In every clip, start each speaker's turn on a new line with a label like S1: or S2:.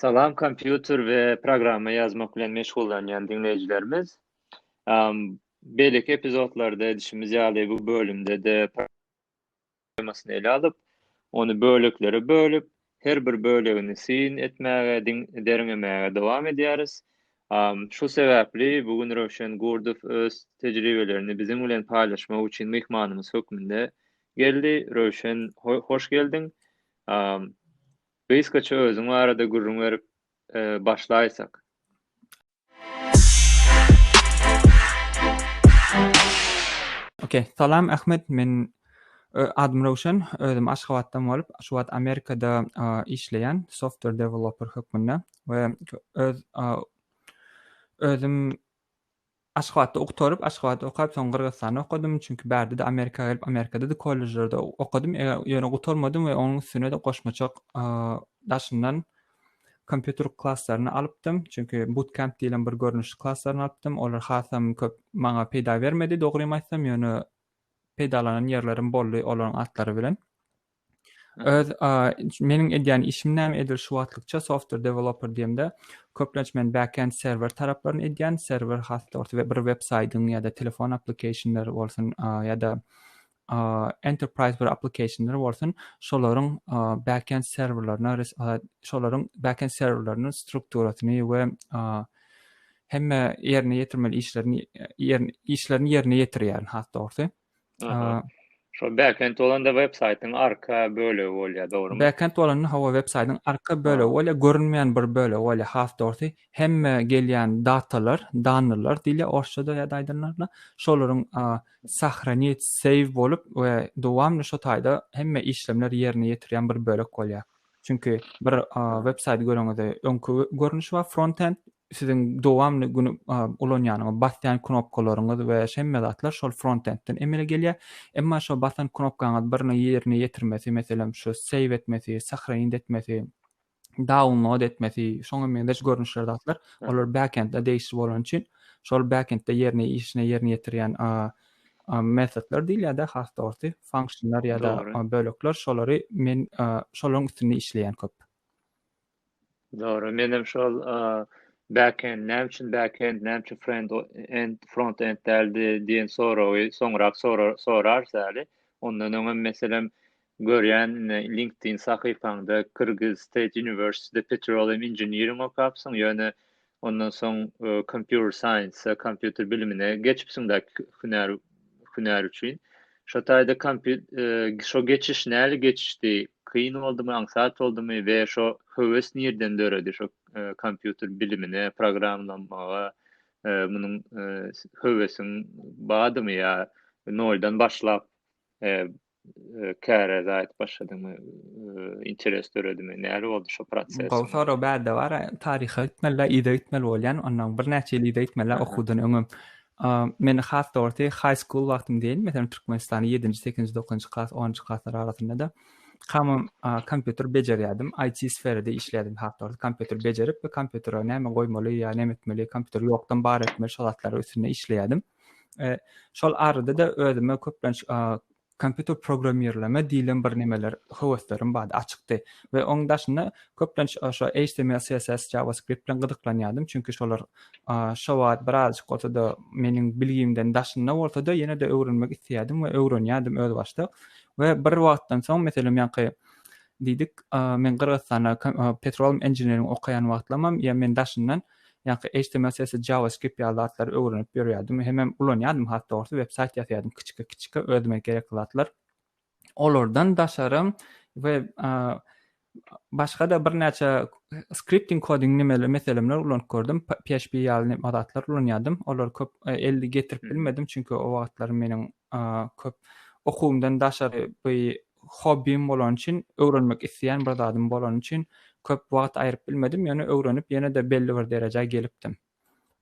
S1: Salam kompýuter we programma ýazmak bilen meşgullanýan diňleýjilerimiz. Beýleki epizodlarda edişimiz ýaly bu bölümde-de temasyny ele alyp, ony böleklere bölüp, her bir bölegini syn etmäge, derňemäge dowam edýäris. Şu sebäpli bu gün Röwşen Gurdow öz tejribelerini biziň bilen paýlaşmak üçin myhmanymyz hökmünde Geldi, Röwşen, hoş geldiň. Gysgaça özüň barada gürrüň berip başlaýsak.
S2: Ok, salam Ahmet, men adym Röwşen, özüm Aşgabatdan bolup, şu wagt Amerikada işleýän, software developer hökmünde we öz özüm Aşgabatda oktaryp, Aşgabatda okap soň Gyrgyzystanda okadym, çünki bärde-de Amerika gelip Amerikada-da kollejlerde okadym, ýöne gutarmadym we onuň üstüne-de goşmaça daşyndan kompýuter klaslaryny alypdym, çünki bootcamp diýilen bir görnüşli klaslaryny alypdym, olar hasam köp maňa peýda bermedi dogrymy aýtsam, ýöne peýdalanan ýerlerim boldy olaryň atlary bilen. öz meniň edýän işim näme edil şu wagtlykça software developer diýemde köplenç men backend serwer taraplaryny edýän serwer hasda bolsa bir web saýdyň ýa-da telefon applikationlary bolsun ýa-da enterprise bir applikationlary bolsun şolaryň backend serwerlerine şolaryň backend serwerleriniň strukturasyny we hemme ýerine ýetirmeli işlerini işlerini ýerine ýetirýän has dogrusy
S1: Şo backend bolanda web saýtyň arka bölegi bolýar, dogrymy? Backend bolanda hawa web
S2: saýtyň arka bölegi bolýar, görünmeýän bir bölegi bolýar. Has dogrusy, hemme gelýän datalar, dannylar diýilýär orsçada ýa-da aýdanlarynda, şolaryň sahranit, save bolup we dowamly şo taýda hemme işlemler ýerine ýetirýän bir bölek bolýar. Çünki bir web saýty göreňizde öňki görnüşi bar frontend siziň dowamly gün ulanýanyňyz basýan knopkalaryňyz we şemme zatlar şol frontendden emele gelýär. Emma şo basan knopkaňyz birini ýerine ýetirmesi, meselem şu save etmesi, sahraýyn etmesi, download etmesi, şoňa meňzeş görnüşler zatlar, olar backendde degişli bolany üçin şol backendde ýerine işine ýerine ýetirýän metodlar diýilýärde has dogrusy funksionlar ýa-da bölekler şolary men şolaryň üstünde işleýän köp.
S1: Dogry, menem şol backend näme üçin backend näme üçin frontend frontend däldi diýen soragy soňrak sorarys äli. Ondan öňem meselem Görýän indi LinkedIn sahypaňda Kyrgyz State University'de Petroleum Engineering okapsyň, ýöne ondan soň Computer Science, kompýuter bilimine geçipsiň däl hünär hünär üçin. Şo taýda şo geçiş näli geçişdi? Kyn boldumy, aňsat boldumy we şo höwes nirden döredi şo kompýuter bilimine, programmalamaga munuň höwesiň badymy ýa noldan başlap Käre zaýat başladyňmy? Interes döredimi? Nähili boldy şu proses? Gowy sorag bärde bar.
S2: Taryha gitmelidä yza gitmeli bolýan. Ondan birnäçe ýyl yza gitmelidä okuwdan öňem. Meni has dogrusy high school wagtym diýeýin, meselem Türkmenistany ýedinji, sekinji, dokuzynjy klas, onunjy klaslar arasynda-da hamam kompýuter bejerýärdim. IT sferada işleýärdim has dogrusy. Kompýuter bejerip we kompýutere näme goýmaly ýa näme etmeli, kompýuteri ýokdan bar etmeli şo zatlaryň üstünde işleýärdim. E, şol arada-da özüme köplenç kompýuter programmirleme diýlen bir nemeler höweslerim bardy, açykdy we oň daşynda köplenç şo HTML, CSS, JavaScript bilen gyzyklanýardym, çünki şolar şo wagt birazjyk bolsa-da meniň bilgimden daşynda bolsa-da ýene-de öwrenmek isleýärdim we öwrenýärdim öz başda we bir wagtdan soň meselem ýanky diýdik, men Gyrgyzystanda petroleum engineering okaýan wagtlamam ýa men daşyndan Ýaňky html sesi JavaScript ýaly zatlary öwrenip ýörýärdim hemem ulanýardym has dogrusy web saýt ýasaýardym kiçike kiçike özüme gerekli zatlar olardan daşarym we başgada birnäçe skripting koding nimeler meselemler ulanyp gördüm php ýaly nime zatlar ulanýardym olar köp elli getirip bilmedim çünki o wagtlar meniň köp okuwymdan daşary bu hobbim bolany üçin, öwrenmek isleýän bir zadym bolany üçin köp wagt aýryp bilmedim, ýöne öwrenip ýene-de belli bir derejä gelipdim.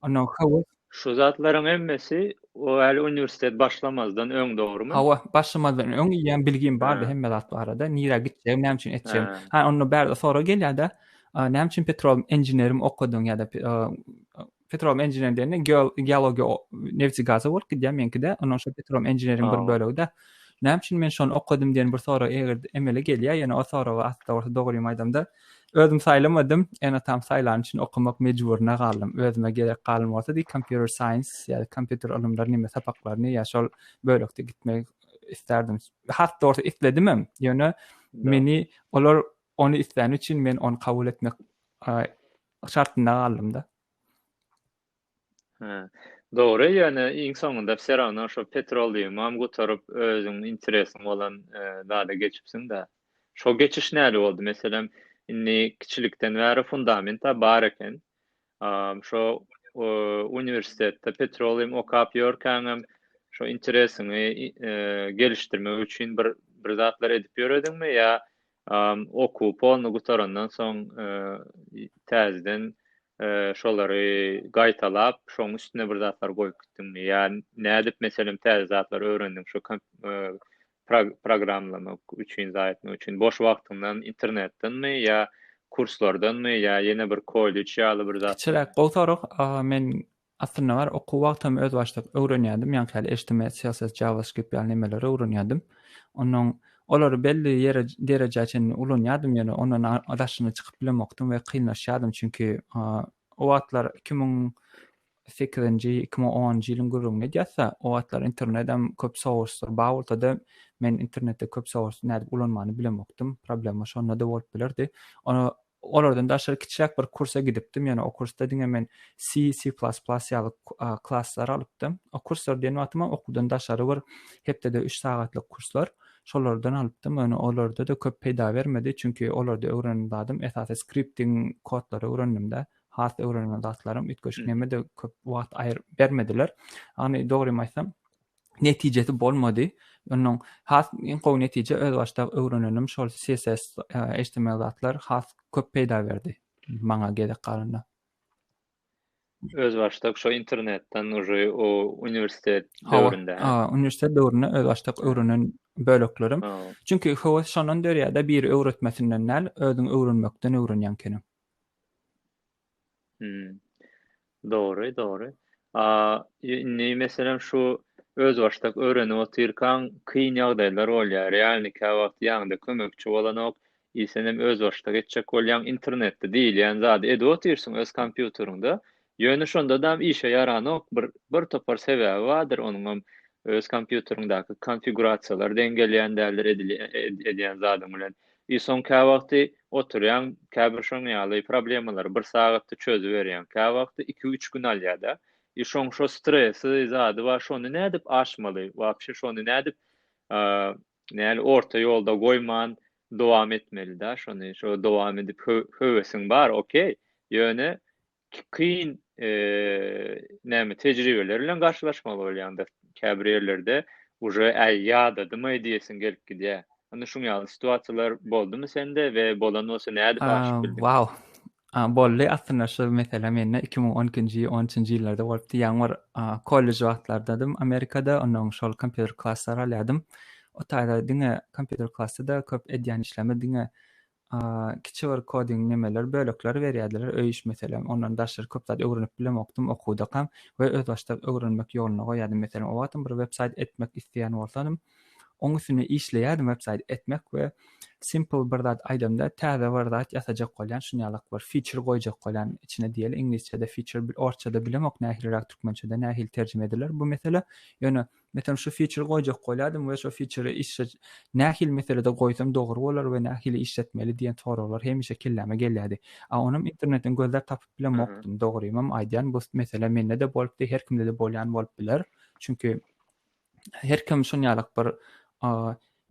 S2: Ondan höwes. Şu
S1: zatlaryň hemmesi o hali uniwersitet başlamazdan öň dogrymy? Hawa, başlamazdan
S2: öň ýa bilgim bardy hemme zat barada, nirä gitjegim, näme üçin etjegim. Ha onda bärde sorag gelýärde, näme üçin petrol inženerim okadyň ýa-da Petrom Engineering diýende geologiýa nebti gaza bolup gidýär meňkide. Ondan şo Petrom Engineering bir bölegi-de. Näme üçin men şony okadym diýen bir sorag eger emele gelýär, ýöne o soraga asla bolsa dogrymy aýdamda özüm saýlamadym, ene-atam saýlany üçin okamak mejburyna galdym. Özüme gerek galan bolsa diý computer science ýa-da kompýuter ylymlary näme sapaklaryny ýa şol bölekde gitmek isterdim. Has dogry isledim hem, ýöne meni olar ony islän üçin men ony kabul etmek şartynda galdym-da. Hä.
S1: Dogry, ýöne iň soňunda wse rawno şo petroliumam gutaryp, özüň interesiň bolan zada geçipsiň-dä. Şo geçiş nädip boldy? Meselem, indi kiçilikden bäri fundament-ä bar eken. Şo uniwersitetde petrolium okap ýörkäňem şo interesiňi gelişdirmek üçin bir bir zatlar edip ýörediňmi ýa Okuw polny gutarandan soň täzeden şolary gaýtalap, şoň üstüne bir zatlar goýup gitdiňmi? Ýa nädip meselem täze zatlar öwrendiň şu programlamak üçin zat etmek üçin? Boş wagtyňdan internetdenmi ýa kurslardanmy ýa ýene bir kollej ýaly bir zat? Kiçiräk gowy sorag.
S2: Men Aslynda bar okuw wagtam özbaşdak öwrenýärdim, ýaňky ýaly HTML, CSS, JavaScript ýaly nemeleri öwrenýärdim. Onnoň olary belli ýere derejä çenli ulanýardym ýöne ondan a daşyna çykyp bilemokdym we kynlaşýardym çünki a o wagtlar iki müň sekizinji, iki müň onunjy ýylyň gürrüňini edýäsda o wagtlar internedem köp source-lar bar bolsa-da men internetde köp source nädip ulanmany bilemokdym, problema şonda-da bolup bilerdi. Ony Olardan daşary kiçiräk bir kursa gidipdim, ýöne o kursda diňe men C, C++ ýaly klasslary alypdym. O kurslar diýen wagtymam okuwdan daşary bir hepdede üç sagatlyk kurslar, şolardan alypdym, ýöne olarda-da köp peýda bermedi, çünki olarda öwrenen zadym esasy skripting kodlary öwrendim-de, has öwrenilen zatlarym üýtgeşik nämede köp wagt bermediler. Ýagny dogrymy aýtsam, netijesi bolmady. Ondan has iň gowy netije özbaşdak öwrenenim şol CSS, HTML zatlar has köp peýda berdi maňa gezek galanda.
S1: Özbaşdak şo internetden uje o uniwersitet döwründe. Hawa, a, uniwersitet döwründe
S2: özbaşdak öwrenen böleklerim. Çünki höwes şondan dörýär-de, biri öwretmesinden däl, özüň öwrenmekden öwrenýän ekeniň.
S1: Dogry, dogry. Indi, meselem, şu özbaşdak öwrenip otyrkaň, kyn ýagdaýlar bolýar, realny käwagt ýaňyda kömekçi bolanok, il senem özbaşdak etjek bolýaň, internetde diýilýän zady edip otyrsyň öz kompýuteriňde, ýöne şondadam işe ýaranok, bir, bir topar sebäbi bardyr, onuňam öz kompýuteriňdäki konfigurasiýalar deň gelýän däldir edilýän, edýän zadyň bilen. I soň käwagty oturýaň käbir şoň ýaly problemalary bir sagatda çözüberýäň käwagty iki üç gün alýada i şoň şo stresi zady bar şony nädip aşmaly wapşe şony nädip näl orta ýolda goýman dowam etmelida şony şo dowam edip höwesiň bar okey ýöne kyn näme tejribeler bilen garşylaşmaly bolýanda käbir ýerlerde uje äý ýadadymaý diýesiň gelip gidýär. Indi şuň ýaly situasiýalar boldumy sende we bolan bolsa nädip aşyp bildiň? Wow.
S2: Boldy aslynda şu mesele mende iki müň on ikinji on üçünji ýyllarda bolupdy. Ýaňy bir kollej wagtlardadym Amerikada onnoň şol kompýuter klasslary alýadym. O taýda diňe kompýuter klasda köp edýän işleme diňe Kiçi bir koding nemeler bölekleri berýärdiler öý iş meselem ondan daşary köp zat öwrenip bilemokdym okudakam we özbaşdak öwrenmek ýoluna goýýardym meselem o wagtam bir websaýt etmek isleýän bolsadym oň üstünde işleýärdim websaýt etmek we simple bir zat aýdamda täze bir zat ýasajak bolýan şunýalak bir feature goýjak bolýan içine diýeli iňlisçede feature orsçada bilemok nähiliräk türkmençede nähili terjime ediler bu mesele ýöne Meselem şu fiçeri goýjak bolýardym we şo fiçeri işe nähili meselede goýsam dogry bolar we nähili işletmeli diýen soraglar hemişe kelläme gelýärdi. A onam internetden gözläp tapyp bilemokdym. Dogrymam aýdýan bu mesele mende-de bolupdy, her kimde-de bolýan bolup biler. Çünki her kim şonýalak bir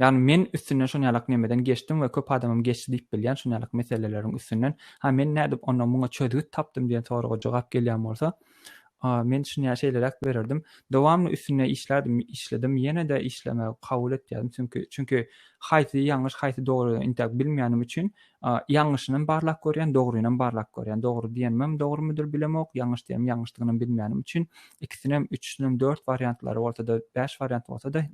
S2: Ýagny men üstünden şon ýalak nemeden geçdim we köp adamam geçdi diýip bilýän şon ýalak meseleleriň üstünden. Ha men nädip onda muňa çözgüt tapdym diýen soraga jogap gelýän bolsa, men şuny şeýleräk bererdim. Dowamly üstünde işlärdim, işledim, ýene-de işlemegi kabul etýärdim. Çünki çünki haýsy ýalňyş, haýsy dogry intäk bilmeýänim üçin A, Ýalňyşynam barlap görýän, dogrynam barlap görýän. Dogry diýenimem dogrymydyr bilemok, ýalňyş diýenim ýalňyşdygynam bilmänim üçin, ikisinem, üçüsinem dört wariantlary bolsa-da, bäş wariant bolsa-da,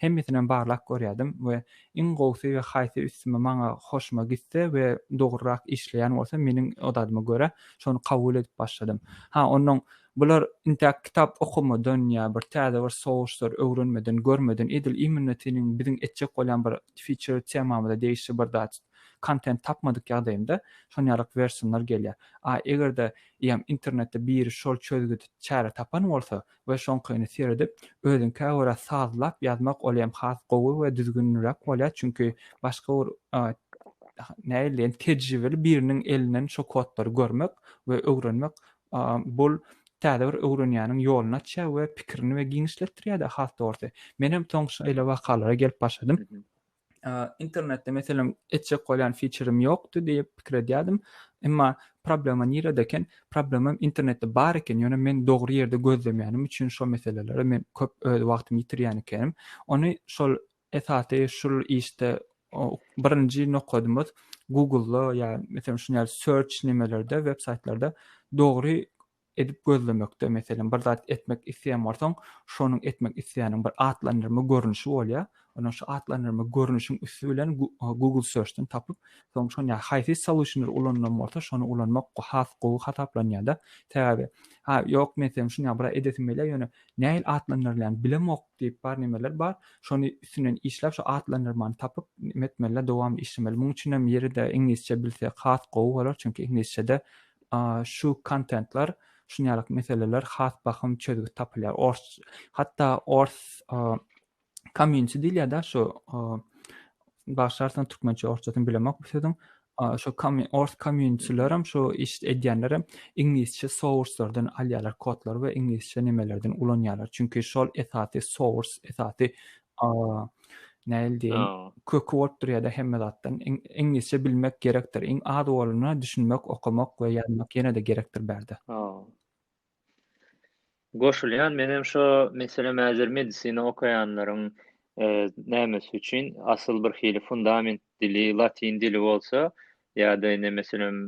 S2: hemmesinem barlap görýärdim we iň gowusy we haýsy üstüme, maňa, hoşuma gitse we dogrurak işleýän bolsa meniň odadyma görä, şony kabul edip başladym. Ha, onnoň Bular intäk kitap okamadan ýa bir täze bir souslar öwrenmeden, görmeden edil imminno seniň biziň etjek bolýan bir feature temamyza degişli bir zat kontent tapmadyk ýagdaýynda şon ýalyk wersionlar gelýär. A eger-de ýam internetde biri şol çözgüdi çäre tapan bolsa we şoňkyny seredip özüňkä görä sazlap ýazmak ol ýam has gowy we düzgünliräk bolýar çünki başga bir nähili diýen tejribeli biriniň elinden şo kodlary görmek we öwrenmek Bul täze bir öwrenýäniň ýoluny açýar we pikirini we giňişletdirýär-de has dogrusy. Menem soň şeýle wakalara gelip başladym. Internetde meselem etjek bolýan fiçerim ýokdy diýip pikir edýärdim. Emma problema nirede eken? Problemam internetde bar eken, ýöne men dogry ýerde gözlemýänim üçin şo meselelere men köp öz wagtymy ýitirýän ekenim. Ony şol Esasy şul işde birinji nokadymyz Google-da ýa meselem şuny ýaly search nimelerde web saýtlarda dogry edip gözlemekde meselem bir zat etmek isleýän bolsaň şonuň etmek isleýäniň bir atlandyrma görnüşi bolýar ondan şu atlandyrma görnüşiň üsti bilen Google search-den tapyp soň şuny ýaly haýsy solution-y ulanylan bolsa şony ulanmak has gowy hasaplanýar-da sebäbi ha ýok men sen şuny ýaly bir zat edesim gelýär ýöne nähili atlandyrylýan bilemok diýip bar nemeler bar şony üstünden işläp şu atlandyrmany tapyp neme etmeli dowamly işlemeli muň üçinem ýeride iňlisçe bilse has gowy bolar çünki iňlisçede şu kontentler şunýaly meseleler has bahym çözgüt tapylýar ors hatda ors Komýunçi diýilýär-de şu bagşarsan türkmençe orsçasyny bilemok bu sözüň. Şu ors komýunçilerem şu iş edýänlerem iňlisçe source-lardan alýarlar kodlary we iňlisçe nemelerden ulanýarlar. Çünki şol esasy source, esasy nähili diýeýin, köki bolup durýar-da hemme zatdan. Iňlisçe bilmek gerekdir. Iň az bolanda düşünmek, okamak we ýazmak ýene-de gerekdir bärde.
S1: Goşulýan menem şo meselem häzir medisina okaýanlaryň nämesi üçin asyl bir hili fundament dili latyn dili bolsa ýa-da indi meselem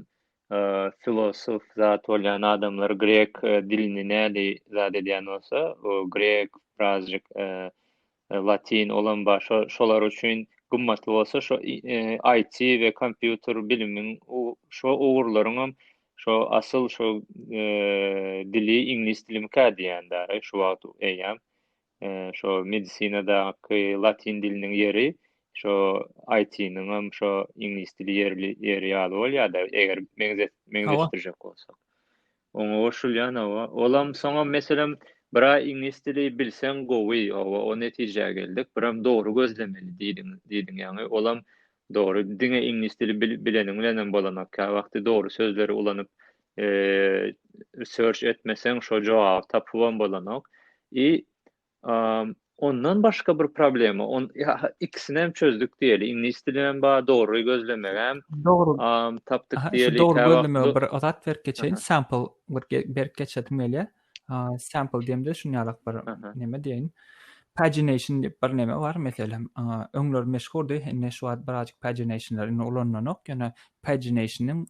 S1: filosof zat bolýan adamlar grek dilini näli zat edýän bolsa o grek birazjyk Latin, olam bar. Şo, şolar üçin gymmatly bolsa, şo IT we kompýuter bilimiň u, şo ugurlaryň hem şo asyl şo dili iňlis dilimikä diýýän däri şu wagt eýýäm. Şo medisinadaky latin diliniň ýeri şo IT-niň hem şo iňlis dili ýerli ýeri ýaly bolýar-da, eger meňzet, meňzetdirjek bolsak. Oňa goşulýan hawa. Olam soňam meselem biraý iňlis dili bilseň gowy hawa o netijä geldik biram dogry gözlemeli diýdiň diýdiň ýaňy olam dogry diňe iňlis dili bileniň bilenem bolanok käwagty dogry sözleri ulanyp search etmeseň şo jogaby tapybam bolanok i Ondan başga bir problema, on ikisini hem çözdük diýeli. Iňlis dili hem bar, dogry gözlemek hem. Dogry. Tapdyk diýeli. Dogry gözlemek bir
S2: azat berip geçeýin. Sample bir berip geçedim gelýär. Sample diýemde şuny ýaly bir näme diýeýin. Pagination diýip bir näme bar meselem. Öňler meşhurdy, indi şu wagt birazjyk paginationlar indi ulanlanok. Ýöne paginationyň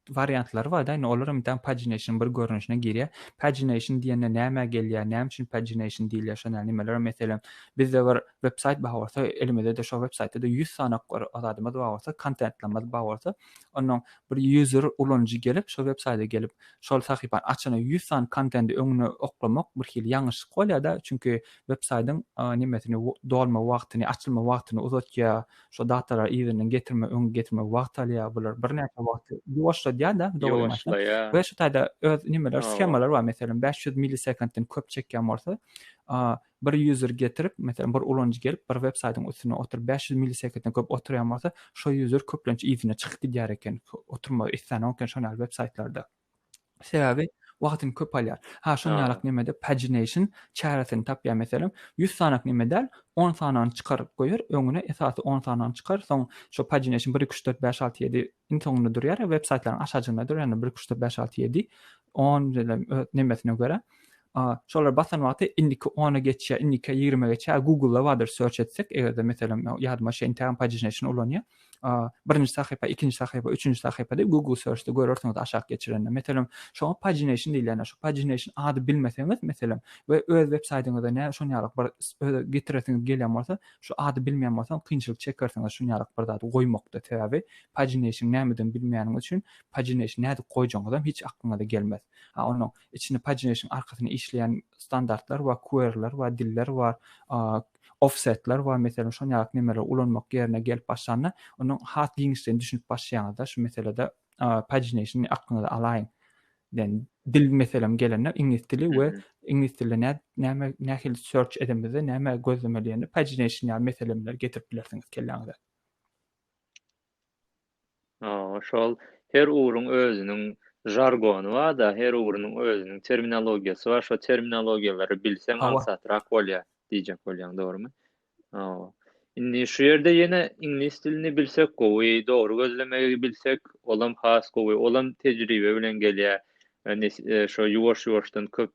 S2: wariantlary barda indi olar hem däl pagination bir görnüşine girýär. Pagination diýende nämä gelýär, näme üçin pagination diýilýär şo näl nimeler meselem bizde bir web saýt bar bolsa elimizde-de şo web saýtda-da ýüz sany bir zadymyz bar bolsa kontentlerimiz bar bolsa onnoň bir user ulanyjy gelip şo web saýda gelip şol sahypany açana ýüz sany kontendi öňüne oklamak bir hili ýalňyşlyk bolýada çünki web saýdyň nimesini dolma wagtyny açylma wagtyny uzatýar Şo datlara yzyndan getirme, öňe getirme wagt alýar. Bular birnäçe wagty ýuwaşladýar-da, dogrymy aýtsam. We şu taýda öz nimeler, shemalary bar. Meselem, bäş ýüz millisekunddan köp çekýän bolsa, bir ýuzer getirip, meselem, bir ulanyjy gelip, bir websaýtyň üstünde oturyp, bäş ýüz millisekunddan köp oturýan bolsa, şo ýuzer köplenç yzyna çykyp gidýär eken. Oturmagy isleýän eken şoňa ýaly websaýtlarda. Sebäbi wagtym köp alýar. Ha, şonuň ýaly nemede pagination çäresini tapýar. Meselem, ýüz sanyk neme däl, on sanyny çykaryp goýar, öňüne esasy on sanyny çykar, soň şo pagination bir, iki, üç, dört, bäş, alty, ýedi iň soňunda durýar, web saýtlaryň aşajygynda durýar, ýagny bir, iki, üç, dört, bäş, alty, ýedi, on diýlem öz nemesine görä. Şolara basan wagty indiki ona geçýär, indiki ýigrime geçýär. Google-da bardyr search etsek, eger-de meselem ýadyma şeýin tägem pagination ulanýar. birinji sahypa, ikinji sahypa, üçünji sahypa diýip Google search-de görersiňiz aşak geçirende. Meselem, şoňa pagination diýilýän, şu pagination ady bilmeseňiz, meselem, we öz websaýtyňyzda nä şon ýalyk bir öz getiresiňiz gelýän bolsa, şu ady bilmeýän bolsaň, kynçylyk çekersiňiz şun ýalyk bir zady goýmakda. Sebäbi pagination nämedigini bilmeýäniňiz üçin pagination nädip goýjagyňyzam hiç aklyňyza gelmez. A onuň içinde pagination arkasyny işleýän standartlar bar, query-ler bar, diller bar, ofsetler bar meselem şol ýaly nemeleri ulanmak ýerine gelip başlanda onuň has giňişleýin düşünip başlaýaňyzda şu meselede pagination aklyňyza alaýyň yani dil meselem gelende iňlis dili we iňlis dilinde nä näme nähili search edemizde näme gözlemeli ýaly pagination ýaly meseleleri getirip bilersiňiz kelläňize.
S1: Şol her ugruň özüniň žargony bar-da, her ugrunyň özüniň terminologiýasy bar. Şo terminologiýalary bilseň aňsatrak bolýar diýjek bolýaň, dogrumy? Hawa. Indi şu ýerde ýene iňlis dilini bilsek gowy, dogry gözlemegi bilsek, olam has gowy. Olam tejribe bilen gelýär. Şo ýuwaş-ýuwaşdan köp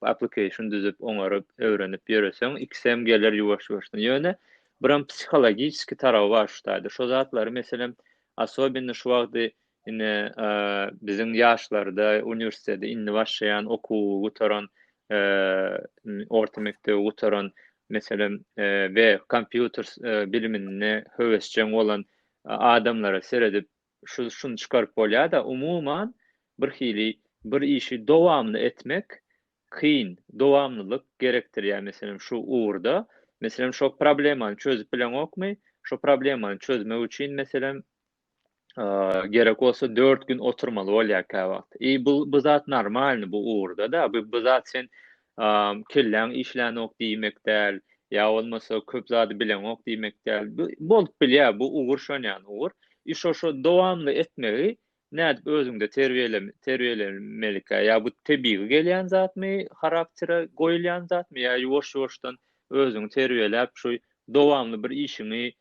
S1: application düzüp, oňaryp, öwrenip ýöreseň, ikisem geler ýuwaş-ýuwaşdan. Ýöne Buram psihologiçeskiý tarawy bar şu taýda. Şo zatlary meselem asobinno şu wagty ine biziň ýaşlarda uniwersiteti indi başlaýan okuwy gutaran orta mekdebi gutaran meselem we kompýuter bilimine höwesjeň bolan adamlara seredip şu şuny çykaryp bolýada umuman birhili bir işi dowamly etmek kyn, dowamlylyk gerekdirýär, meselem, şu ugurda, meselem, şo problemany çözüp bileňokmy, şo problemany çözmek üçin, meselem, gerek bolsa dört gün oturmaly bolýar käwagt. I bu, bu zat normalny bu ugurda-da, bu, bu zat sen kelläň işlänok diýmek däl, ýa bolmasa köp zady bileňok diýmek däl, bu bolup bilýär, bu ugur şon ýaly ugur. I şo-şo dowamly etmegi Nädip özüňde terbiýelemelikä? Ýa bu tebigy gelýän zatmy, haraktere goýulýan zatmy? Ýa ýuwaş-ýuwaşdan özüňi terbiýeläp, şu dowamly bir işiňi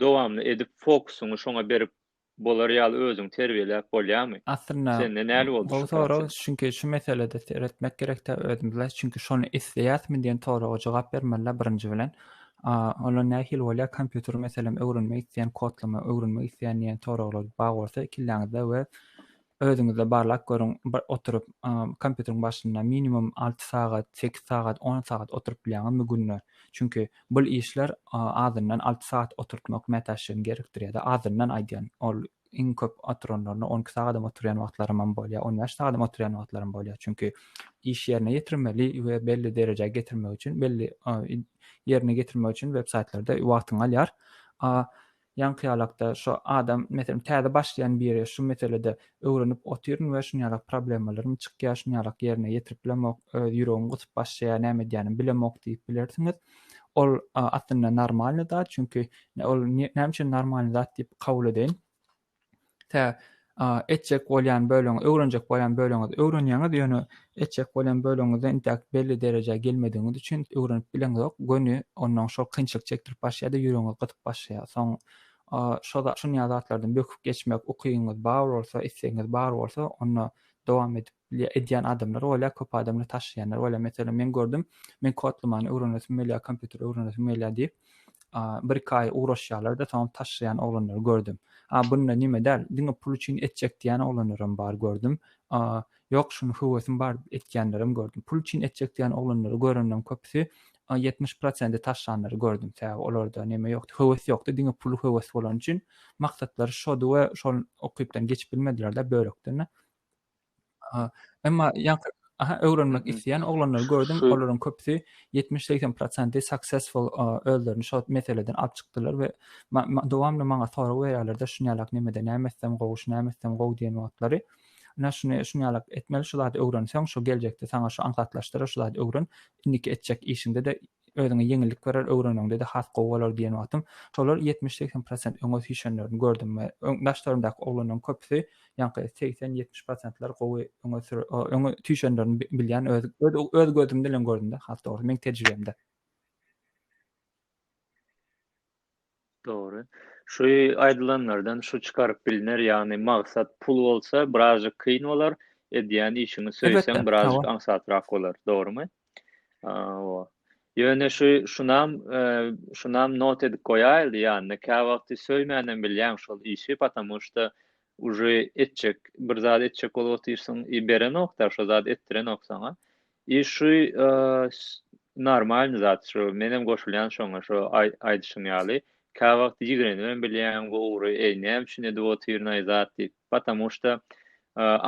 S1: dowamly edip, fokusyňy şoňa berip bolar ýaly özüňi terbiýeläp bolýarmy? Aslynda
S2: gowy
S1: sorag, çünki şu
S2: meselede seretmek gerek-dä özümize, çünki şony isleýärismi diýen soraga jogap bermeli-dä birinji bilen. A, onda nähili bolýar, kompýuter meselem öwrenmek isleýän, kodlama öwrenmek isleýän diýen soraglar bar bolsa, kelläňizde we özüňizde barlap görüň, bir oturyp, kompýuteriň başynda minimum alty sagat, sekiz sagat, on sagat oturyp bilýäňizmi günde? Çünki bul işler azyndan alty sagat oturtmak mätäçligini gerekdirýär-de, azyndan aýdýan, ol iň köp oturanlaryna on iki sagadam oturýan wagtlarymam bolýar, on bäş sagadam oturýan wagtlarym bolýar. Çünki iş ýerine ýetirmeli we belli derejä getirmek üçin, belli ýerine getirmek üçin web saýtlarda wagtyňy alýar. A ýaňky ýalakda şu adam, meselem, täze başlaýan biri şu meselede öwrenip otyryn we şuny ýalak problemalarym çykýar, şuny ýalak ýerine ýetirip bilemok, öz ýüregim gysyp başlaýar, näme edýänim bilemok diýip bilersiňiz. Ol aslynda normalny zat, çünki ol näme üçin normalny zat diýip kabul edeýin? Tä etjek bolýan bölüňi, öwrenjek bolýan bölüňi öwrenýäňiz, ýöne etjek bolýan bölüňizde intäk belli derejä gelmedigiňiz üçin öwrenip bileňizok. Göni ondan şol kynçylyk çekdirip başlaýar-da, ýüregiňiz gysyp başlaýar. Soň şo şunýa zatlardan böküp geçmek ukyňyz bar bolsa, islegiňiz bar bolsa, onda dowam edip Bilýä edýän adamlar bolýa köp adamlar taşlaýanlar bolýa meselem men gördüm men kodlamany öwrenesim gelýä kompýuter öwrenesim gelýä diýip bir iki aý ugraşýarlarda soňam taşlaýan oglanlary gördüm a bunda nime däl diňe pul üçin etjek diýen oglanlaram bar gördüm a ýok şuny höwesim bar etýänlerem gördüm pul üçin etjek diýen oglanlary görendem köpüsi ýetmiş prosenti taşlanlary gördüm sebäbi olarda neme ýokdy höwes ýokdy diňe pul höwes bolan üçin maksatlary şody we şol okypdan geçip bilmediler-de bölekden Aha, emma ýaňky Aha, öwrenmek Mhm. isleýän oglanlary gördüm. Şu- Olaryň köpüsi 70-80 prosenti successful a, özlerini şo meseleden alyp çykdylar we ma- ma- dowamly maňa sorag berýärler-de şuny ýalak nemede näme etsem gowy, şu näme etsem gowy diýen wagtlary. Ine şuny şuny ýalak etmeli, şu zady öwrenseň, şu geljekde saňa şu aňsatlaşdyrar, şu zady öwren. Indiki etjek işiňde-de Özüňe ýeňillik berer, öwreneniňde-de has gowy bolar diýen wagtym, şolar ýetmiş-segsen prosent öňe süýşenlerini gördüm we öň daşlarymdaky oglanlaryň köpüsi ýaňky segsen-ýetmiş prosentler gowy öňe sür o öňe süýşenlerini bi bilýän öz öz öz gözüm bilen gördüm-de, has dogrusy, meň tejribemde.
S1: Dogry. Şu aýdylanlardan şu çykaryp biliner, ýagny maksat pul bolsa birazjyk kyn bolar, edýän işiňi söýseň birazjyk aňsatrak bolar. Dogrymy? Hawa. Ýöne şu şunam şunam not edip goýaýly ýanyna käwagty söýmänem bilýäň şol işi patamu şda uje etjek bir zat etjek bolup otyrsyň i berenok da şo zat etdirenok saňa I şu normalny zat şu menem goşulýan şoňa şu aýdyşyň ýaly käwagt ýigrenibem bilýän bu ugry eý näme üçin edip otyrynaý zat diýip patamu şda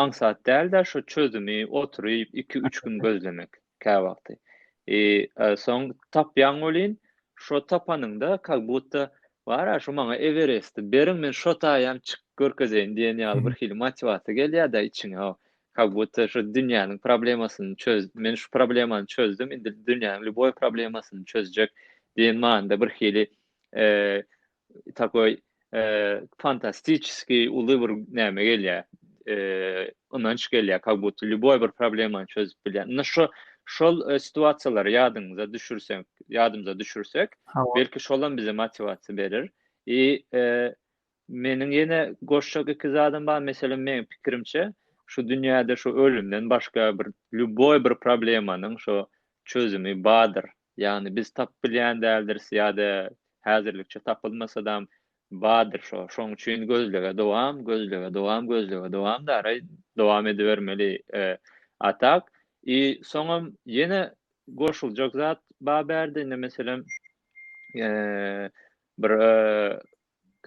S1: aňsat dälda şu çözümi oturyp iki üç gün gözlemek käwagty i soň tapýaň welin şo tapanyňda kag butta Bar-a, şu maňa Eweresti beriň, men şo taýam çykyp görkezeýin diýen ýaly bir hili motiwasiýa gelýär-dä içiňe. Ka budda şu dünýäniň problemasyny çöz, men şu problemany çözdüm, indi dünýäniň lýuboý problemasyny çözjek diýen manyda bir hili takoý fantastiçeskiý uly bir näme gelýär, ynanç gelýär kak budto lýuboý bir problemany çözüp bilýän indi şo şol situasiýalary ýadyňyza düşürsek ýadymyza düşürsek belki şolam bize motiwasiýa berer i meniň ýene goşjak iki zadym bar meselem meniň pikirimçe şu dünýäde şu ölümden başga bir lýuboý bir problemanyň şo çözümi bardyr ýagny biz tapyp bilýän däldiris ýa-da häzirlikçe tapylmasadam Badyr şo, şoň üçin gözlege dowam, gözlege dowam, gözlege dowam daraý dowam edibermeli e, atak. I soňam ýene goşuljak zat ba bärde indi meselem e, bir e,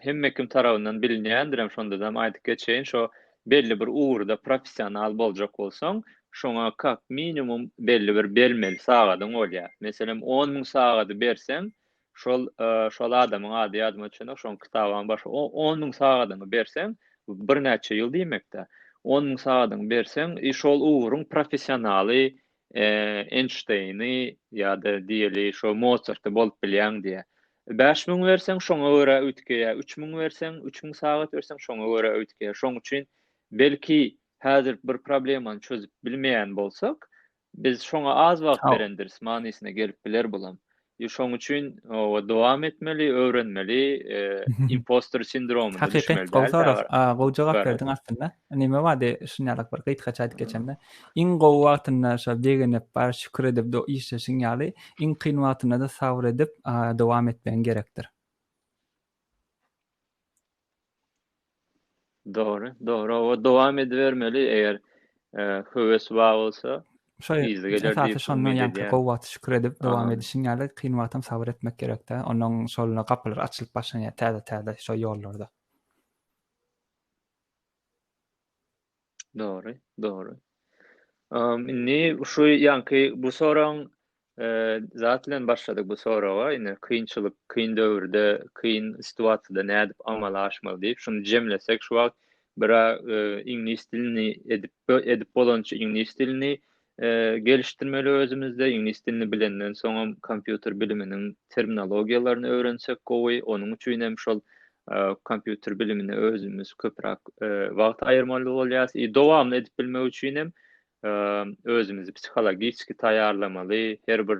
S1: hemme kim tarabyndan bilinýändirem şondadam aýdyp geçeýin şo belli bir ugurda professional boljak bolsaň şoňa kak minimum belli bir bermeli sagadyň bolýar meselem on müň sagady berseň Şol şol adamyň ady ýadyma düşenok, şoň kitabam bar. O on müň sagadyňy berseň, birnäçe ýyl diýmekde. On müň sagadyňy berseň, i şol ugruň professionaly Enşteýni ýa-da diýeli şo Mozarty bolup bilýäň diýýär. Bäş müň berseň, şoňa görä öwütgeýär. Üç müň berseň, üç müň sagat berseň, şoňa görä öwütgeýär. Şoň üçin belki häzir bir problemany çözüp bilmeýän bolsak, Biz şoňa az wagt berendiris manysyna gelip biler bulam. Ýo şoň üçin owa dowam etmeli, öwrenmeli, impostor sindromu düşmeli. Hakyky soraw. A gowy
S2: jogap berdiň aslynda. Neme wady şun ýalak bir gysgaça aýdyp geçende. Iň gowy wagtynda şo begenip bar şükür edip do işleşiň ýaly iň kyn wagtynda-da sabr edip dowam etmegiň gerekdir.
S1: Dogry, dogry. Oba dowam edibermeli, eger höwes bar bolsa, yzy geler diýip umyt edýärin.
S2: Gowy wagty şükür edip dowam edişiň ýaly, kyn wagtam sabyr etmek gerek-dä. Ondan soňra gapylar açylyp başlanýar täze-täze şo ýollarda.
S1: Dogry, dogry. Um, indi şu ýanky bu soragyň zat bilen başladyk bu soraga, indi kynçylyk, kyn döwürde, kyn situasiýada nädip amala aşmaly diýip, şuny jemlesek şu wagt bira e, iňlis dilini edip edip bolança iňlis dilini gelişdirmeli özümizde, iňlis dilini bilenden soňam kompýuter biliminiň terminologiýalaryny öwrensek gowy, onuň üçin hem şol kompýuter bilimine özümiz köpräk wagt aýyrmaly bolýarys, i dowamly edip bilmek üçin hem özümizi psihologiski taýýarlamaly, her bir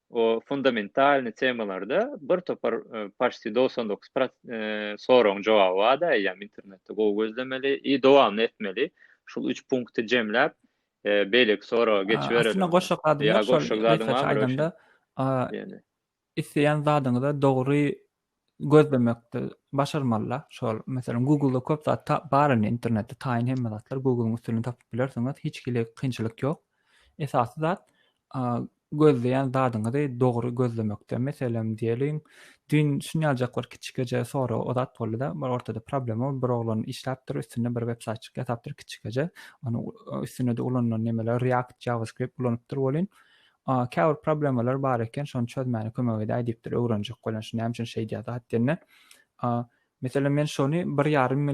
S1: o fundamentalny temalarda bir topar paşti dogsan dokuz soragyň jogaby bar-da, eýýäm internetde gowy gözlemeli i dowamly etmeli. Şul üç punkty jemläp, beýleki soraga geçibereliň. Aslynda goşjak zadym ýok,
S2: şol research aýdanda isleýän zadyňyza dogry gözlemekde başarmalylar. Şol meselem Google-da köp zat bar indi internetde taýyn hemme zatlar Google-yň üstünden tapyp bilersiňiz. Hiç hili kynçylyk ýok. Esasy zat gözleýän zadyňyzy dogry gözlemekde. Meselem diýeliň, düýn şuny aljak bir kiçikeje sora o zat boldy-da, bir ortada problema, bir oglan işläpdir, üstünde bir websaýtçyk ýasapdyr kiçikeje. Onuň üstünde-de ulanylan nemeler React, JavaScript ulanypdyr welin, A käbir problemalar bar eken, şony çözmäne kömek edäý diýipdir, öwrenjek bolan şu näme üçin şeýdýär zat diýende. A Meselem men şony bir ýarym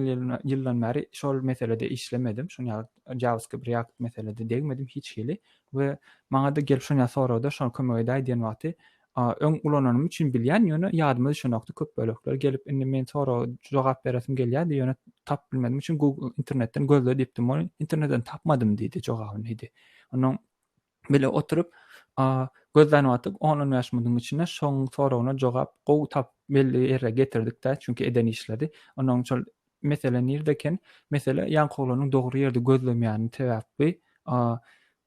S2: ýyldan bäri şol meselede işlemedim. Şony ýaly JavaScript React meselede degmedim hiç hili we maňa-da gelip şony sorady, şony kömek edäý diýen wagty öň ulananym üçin bilýän, ýöne ýadyma düşenokdy köp bölekler gelip indi men sora jogap beresim gelýärdi, ýöne tapyp bilmedim üçin Google internetden gözle diýipdim, ony internetden tapmadym diýdi, jogabyny diýdi. Onuň Bile oturyp gözlän wagtyk on-on bäş munuň içinde şoň soragyna jogap gowy tapyp belli ýere getirdik-dä, çünki eden işledi. Onnoň şol mesele nirde eken? Mesele ýaňkowlanyň dogry ýerde gözlemýäni sebäpbi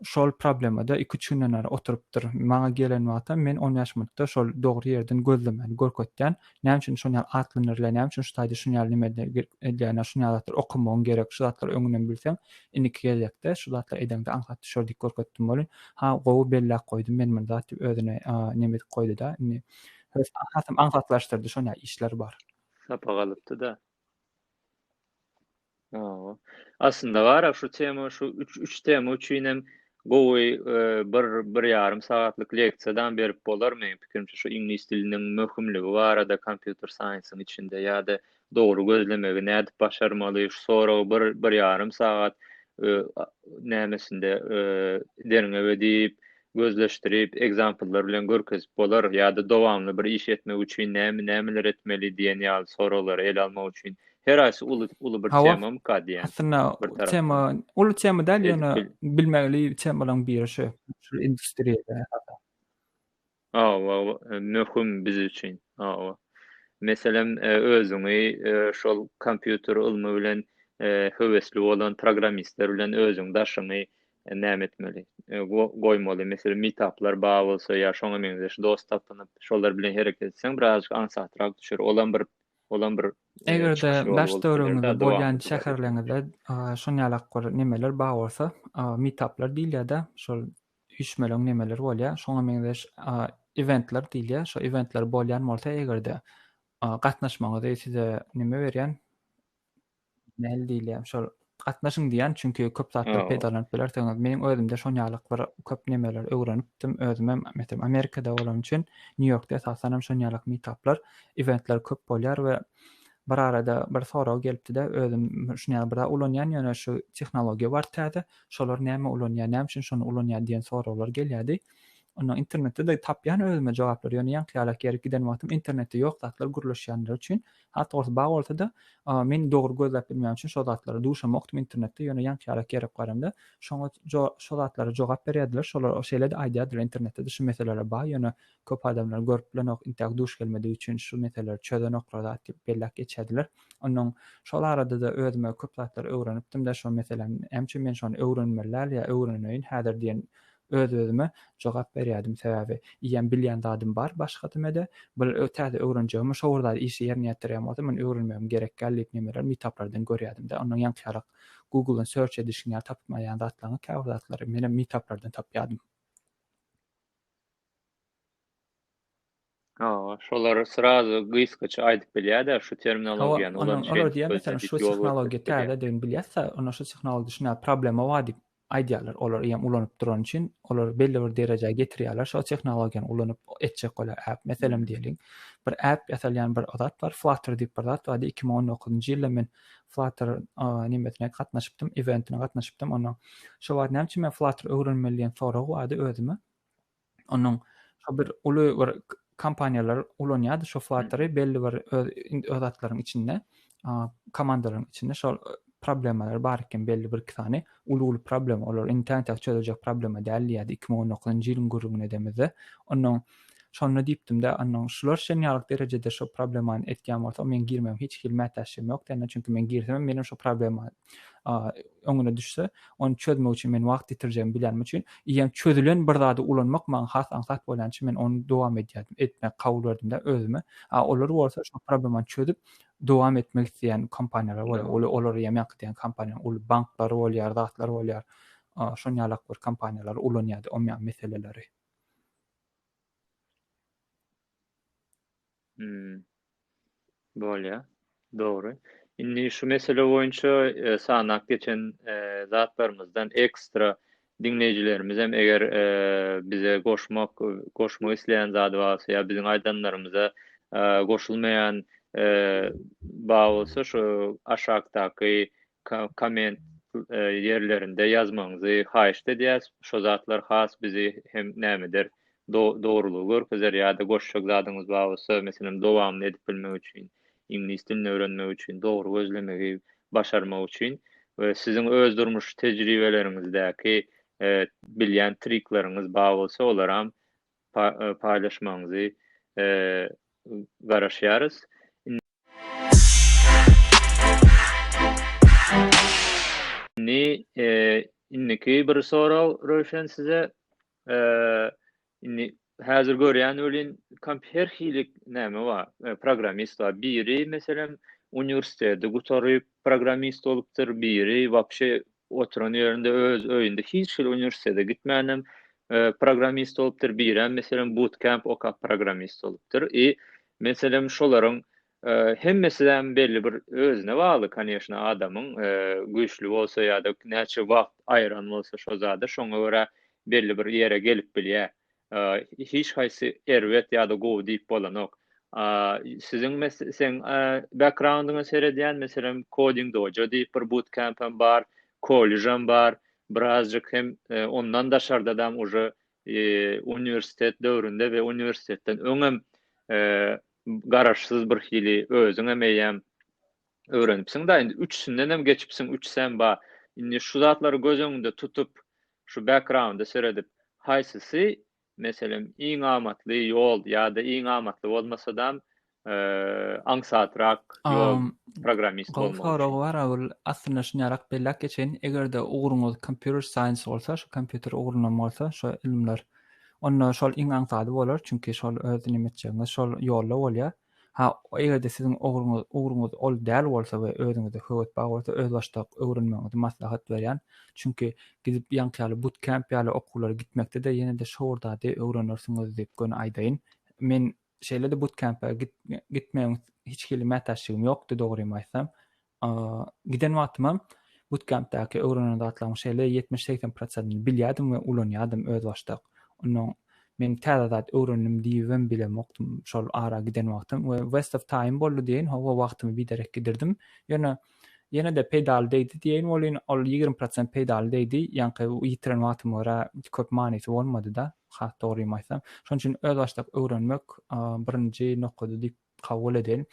S2: şol problemada iki-üç günden bäri oturypdyr. Maňa gelen wagtam men on bäş minutda şol dogry ýerden gözlemeni görkezýän. Näme üçin şon ýaly atlandyrylar, näme üçin şu taýda şun ýaly nimeler edilýär, şun ýaly zatlar okamagyň gerek, şu zatlary öňünden bilseň, indiki gezekde şu zatlary edeňde aňsat düşer diýip görkezdim welin, ha, gowy belläp goýdum men muny zat diýip özüne neme edip goýdy-da, indi hös hasam aňsatlaşdyrdy, şon ýaly işler bar. Sapak alypdy-da.
S1: Hawa. Aslynda bar-a şu tema, şu üç, üç tema üçin hem gowy e, bir, bir ýarym sagatlyk leksiýadam berip bolar. Meň pikirimçe şu iňlis diliniň möhümligi barada kompýuter saýensiň içinde ýa-da dogry gözlemegi nädip başarmaly, şu soragy bir, bir ýarym sagat e, a- nämesinde e, derňew edip, gözleşdirip, ekzampllar bilen görkezip bolar ýa-da dowamly bir iş etmek üçin näme nämeler etmeli diýen ýaly soraglary ele almak üçin her aýsy uly uly bir temamyka diýen. Aslynda tema
S2: uly tema däl ýöne bilmegli temalaryň biri şu. Şu industriýada hatar. Hawa,
S1: möhüm biz üçin. Hawa. Meselem özüňi şol kompýuter ylmy bilen höwesli bolan programmistler bilen özüň daşyňy näme etmeli? Goýmaly. Meselem, meetuplar bar bolsa ýa şoňa meňzeş dost tapynyp, şolar bilen hereket etseň, birazajyk aňsatrak düşer. Olam bir, olam bir Eger-de daş
S2: döwrüňizde bolýan şäherleriňizde şunuň ýaly bir nemeler bar bolsa, meetuplar diýilýär-de, şol üýşmeleň nemeleri bolýar, şoňa meňzeş eventler diýilýär. Şo eventler bolýan bolsa eger-de, gatnaşmagyňyzy size näme berýän, Nähili diýilýär, şol gatnaşyň diýýän, çünki köp zatlar peýdalanyp bilersiňiz. Meniň özümde şon ýalyk bir köp nemeler öwrenipdim. Özüm hem, meselem, Amerikada bolan üçin, Nýu-Ýorkda esasan hem şon ýalyk mitaplar, iventler köp bolýar we bir arada bir sorag gelipdi-de, özüm şun ýaly bir zat ulanýan, ýöne şu tehnologiýa bar täze, şolar näme ulanýar, näme üçin şony ulanýar diýen soraglar gelýärdi. Onda internetde-de tapýan özüme jogaplary, ýöne ýaňky ýalak ýerik giden wagtym internetde ýok zatlar gürleşýänler üçin, Has dogrusy bar bolsada men dogry gözläp bilmän üçin şo zatlara duşamokdym internetde ýöne ýaňky ýarak gerip garamda şoňa şo zatlara jogap berýärdiler şolar şeýlede aýdýardylar internetde de şu meseleler bar ýöne köp adamlar görüp bilenok intäk duş gelmedigi üçin şu meseleleri çözenoklar zat diýip belläp geçýärdiler onnoň şol aradada özüme köp zatlar öwrenipdimde şo meseläni näme üçin men şony öwrenmeli däl ýa öwreneýin häzir diýen Öz-özüme jogap berýärdim, sebäbi iýen bilýän zadym bar, başga dymede, bir täze öwrenjegimi, şo bir zady işe ýerine ýetirýän bolsam, ony öwrenmegim gerek däl diýip nemeler meetuplardan görýärdim-de, ondan ýaňkyýarak Google-dan search edişiň ýaly tapyp maýan zatlaryňy, käbir zatlary menem meetuplardan tapýardym.
S1: Hawa, şolar srazu gysgaça aýdyp bilýär-dä şu terminologiýany ulan şeýdip. Hawa, olar diýýär, meselem,
S2: şu tehnologiýa täzedigini bilýäs-ä, onda şu tehnologiýa düşünýär, problema bar diýip aýdýarlar. Olar eýýäm ulanyp durany üçin, olar belli bir derejä getirýärler, şo tehnologiýany ulanyp etjek bolýar äp. Meselem diýeliň, bir äp ýasalýan bir zat bar, Flutter diýip bir zat bardy, iki müň on dokuzynjy ýylda men Flutter nimesine gatnaşypdym, eventine gatnaşypdym onuň. Şo wagt näme üçin men Flutter öwrenmeli diýen sorag bardy özüme. Onuň şo bir uly bir kompaniýalar ulanýardy şo fluttery belli bir öz öz zatlaryň içinde komandalaryň içinde şol problemalar bar eken belli bir iki sany uly uly problema olar indi täň täk çözüljek problema däl diýýärdi iki müň on dokuzynjy ýylyň gürrüňini edemizde onuň şonda diýipdimde onuň şular şen ýalyk derejede şo problemany etýän bolsa men girmegim hiç hili mätäçligim ýok dende çünki men girsem menem şo problema öňüne düşse, ony çözmek üçin men wagt ýitirjegimi bilýänim üçin, eýýäm çözülen bir zady ulanmak maňa has aňsat bolýany üçin men ony dowam edýärdim, etmek kabul berdimde özüme. A olar bolsa şu problemany çözüp dowam etmek isleýän kompaniýalar bolýar. Ol olar eýýäm ýaňky diýen kompaniýanyň uly banklary bolýar, zatlary bolýar. Şon ýalak bir kompaniýalar ulanýardy o meseleleri.
S1: Hmm. Bolýar. Dogry. Indi şu mesele boýunça e, sanap geçen e, zatlarymyzdan ekstra diňleýjilerimiz hem eger e, bize goşmak goşmak isleýän zady barsa ýa biziň aýdanlarymyza e, goşulmaýan e, bar bolsa şu aşakdaky komment ýerlerinde ýazmagyňyzy haýyşt edýäs, şo zatlar has bizi hem nämedir dogrulygy görkezer ýa-da goşjak zadyňyz bar bolsa, meselem dowamyny edip bilmek üçin, iňlis dilini öwrenmek üçin, dogry gözlemegi başarmak üçin we siziň öz durmuş tejribeleriňizdäki bilýän trikleriňiz bar bolsa olaram paýlaşmagyňyzy garaşýarys. Indi indiki bir sorag Röwşen size indi häzir görýän welin her hili näme bar programmist bar biri meselem uniwersiteti gutaryp programmist bolupdyr biri wapşe Oturan ýerinde öz öýünde hiç hili uniwersitete gitmänem programmist bolupdyr, birem meselem bootcamp okap programmist bolupdyr. I meselem şolaryň hemmesizem belli bir özüne bagly koneşna adamyň güýçli bolsa ýa-da näçe wagt aýyran bolsa şo zada şoňa görä belli bir ýere gelip bilýär. Hiç haýsy erbet ýa-da gowy diýip bolanok. Siziň meseň background-yňa seredýän, meselem, Coding Dojo diýip bir bootcamp-am bar, kolležam bar, birazjyk hem ondan daşarda-dam uje uniwersitet döwründe we uniwersitetden öňem garaşsyz birhili özüňem eýýäm öwrenipsiň da indi üçüsindenem geçipsiň üçisem bar indi şu zatlary göz öňünde tutup şu backgrounda seredip haýsysy meselem iň amatly ýol ýa-da iň amatly bolmasadam aňsatrak ýol programmist bolmak üçin. Gowy sorag bar ol
S2: aslynda şunyarrak belläp geçeýin egerde ugruňyz computer science bolsa şu kompýuter ugrundan bolsa şu ylymlar onda şol iň aňsady bolar çünki şol öz neme etjegiňiz şol ýolda bolýar Ha, eger-de siziň ugruňyz, ugruňyz ol däl bolsa we özüňizde höwes bar bolsa, özbaşdak öwrenmegiňizi maslahat berýän. Çünki gidip ýaňky ýaly butkämp ýaly okuwlara gitmekde-de ýene-de şowurdady öwrenirsiňiz diýip göni aýdaýyn. Men şeýle-de butkämpe gitmegiň hiç hili mätäçligim ýokdy dogrymy aýtsam. Giden wagtymam butkempdäki öwrenen zatlaryň şeýle ýetmiş-segsen prosentini bilýärdim we ulanýardym özbaşdak. Onnoň men täze zat öwrendim diýibem bilemokdym şol ara giden wagtym we waste of time boldy diýeýin, hawa wagtymy biderek gidirdim. Ýöne ýene-de peýdaly degdi diýeýin welin, ol ýigrimi prosent peýdaly degdi, ýaňky ýitiren wagtyma görä köp manysy bolmady-da, has dogrymy aýtsam. Şonuň üçin özbaşdak öwrenmek birinji nokady diýip Kabul edin.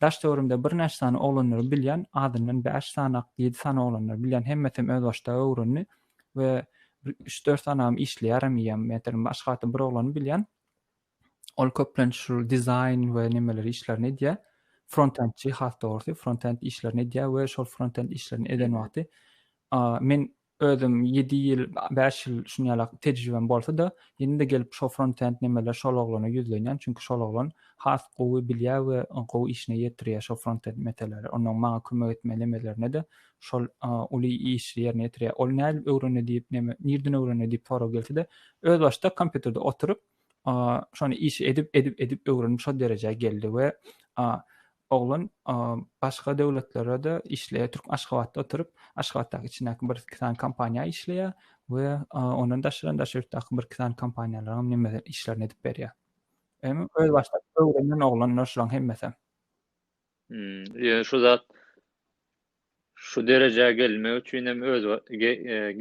S2: Daş-töwerimde birnäçe sany oglanlary bilýän, azyndan bäş sany, ýedi sany oglanlary bilýän, hemmesem özbaşdak öwrendi we bir üç-dört sanam işleýärem eýýäm. Meselem, başga wagtda bir oglany bilýän, ol köplenç şul dizaýn we nemeler işlerini edýär. Frontendçi, has dogrusy, frontend işlerini edýär we şol frontend işlerini eden wagty men Özüm ýedi ýyl, bäş ýyl şuny ýala tejribem bolsa-da, indi-de gelip şo frontend nimeler şol oglana ýüzlenýän, çünki şol oglan has gowy bilýär we gowy işine ýetirýär şo frontend meseleleri. Onnoň maňa kömek etme nimelerine-de şol uly işi ýerine ýetirýär. Ol nädip öwrendi diýip, neme, nirden öwrendi diýip sorag gelse-de, özbaşdak kompýuterde oturyp, şony işi edip, edip, edip öwrenip şo derejä geldi we Oglan başga döwletlerde-de işleýär. Türk Aşgabatda oturyp, Aşgabatdaky içindäki bir iki sany kompaniýa işleýär we ondan daşary daşary ýurtdaky bir iki sany kompaniýalaryň neme işlerini edip berýär. Emi öz başdak öwrenen oglanlar şulaň hemmesem.
S1: Ýöne şu zat Şu derejä gelmek üçin hem öz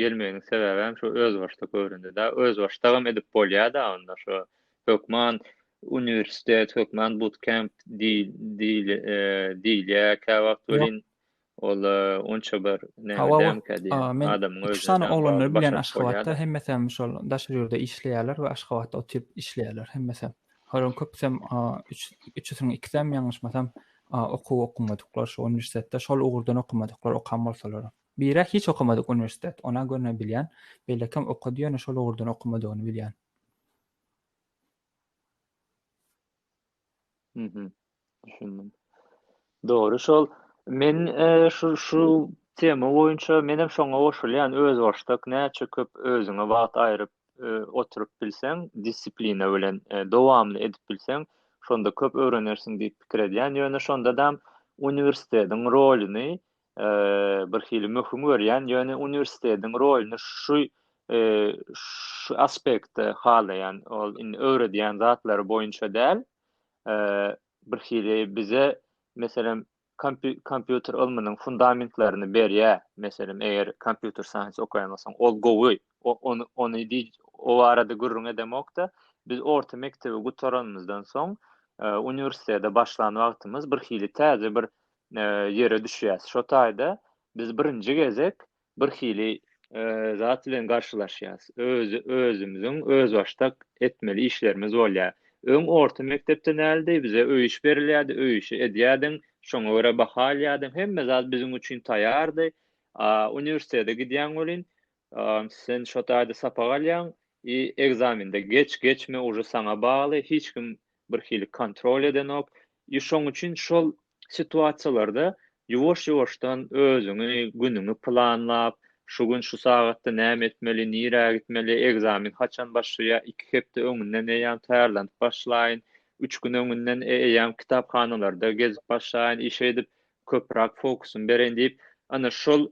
S1: gelmeginiň sebäbem şu özbaşdak göründi da özbaşdagam edip bolýada onda şu hökman uniwersitet hökman butkemp diýilýä käwagt welin ol onça bir näme dämkä diýýän adamyň özüne üç sany oglany bilen
S2: aşgabatda hemmesem şol daşary ýurda işleýärler we aşgabatda otyp işleýärler hemmesem Olaryň köpüsem üçüsiniň ikisem ýalňyşmasam okuw okamadyklar şu uniwersitetde şol ugurdan okamadyklar okan bolsalar biri hiç okamadyk uniwersitet ona görne bilýän beýlekem okady ýöne şol ugurdan okamadygyny bilýän
S1: Düşündim. Dogry şol. Men e, şu şu tema boýunça men hem şoňa goşulýan. Özbaşdak näçe köp özüňe wagt aýryp e, oturyp bilseň, disiplina bilen e, dowamly edip bilseň, şonda köp öwrenersiň diýip pikir edýän. Ýöne şonda da uniwersitetiň rolyny e, bir hili möhüm görýän. Ýöne uniwersitetiň rolyny şu e, şu aspektde halaýan. Ol indi öwredýän zatlary boýunça däl, birhili bize meselem kompýuter ylmynyň fundamentlerini berýär. Meselem, eger kompýuter science okaýan bolsaň, ol gowy. Ony ony o barada gürrüň edemokda, biz orta mekdebi gutaranymyzdan soň, uniwersitete başlan wagtymyz birhili täze bir ýere düşýäs. Şo taýda biz birinji gezek bir hili zat bilen garşylaşýas. Öz özümiziň özbaşdak etmeli işlerimiz bolýar. Öň orta mekdepde näldi bize öý iş berilýärdi, öý işi edýärdiň, şoňa görä baha alýardyň, hemme zat biziň üçin taýýardy. A uniwersitete gidýäň welin, sen şo taýda sapak alýaň i ekzamende geç, geçme uje saňa bagly, hiç kim bir hili kontrol edenok. I şoň üçin şol situasiýalarda ýuwaş-ýuwaşdan özüňi, günüňi planlap, şu gün şu sagatda näme etmeli, nirä gitmeli, ekzamen haçan başlaýar, iki hepde öňünden eýýäm taýýarlanyp başlaýyn, üç gün öňünden eýýäm kitaphanalarda gezip başlaýyn, işe gidip köpräk fokusym bereýin diýip, ana, şol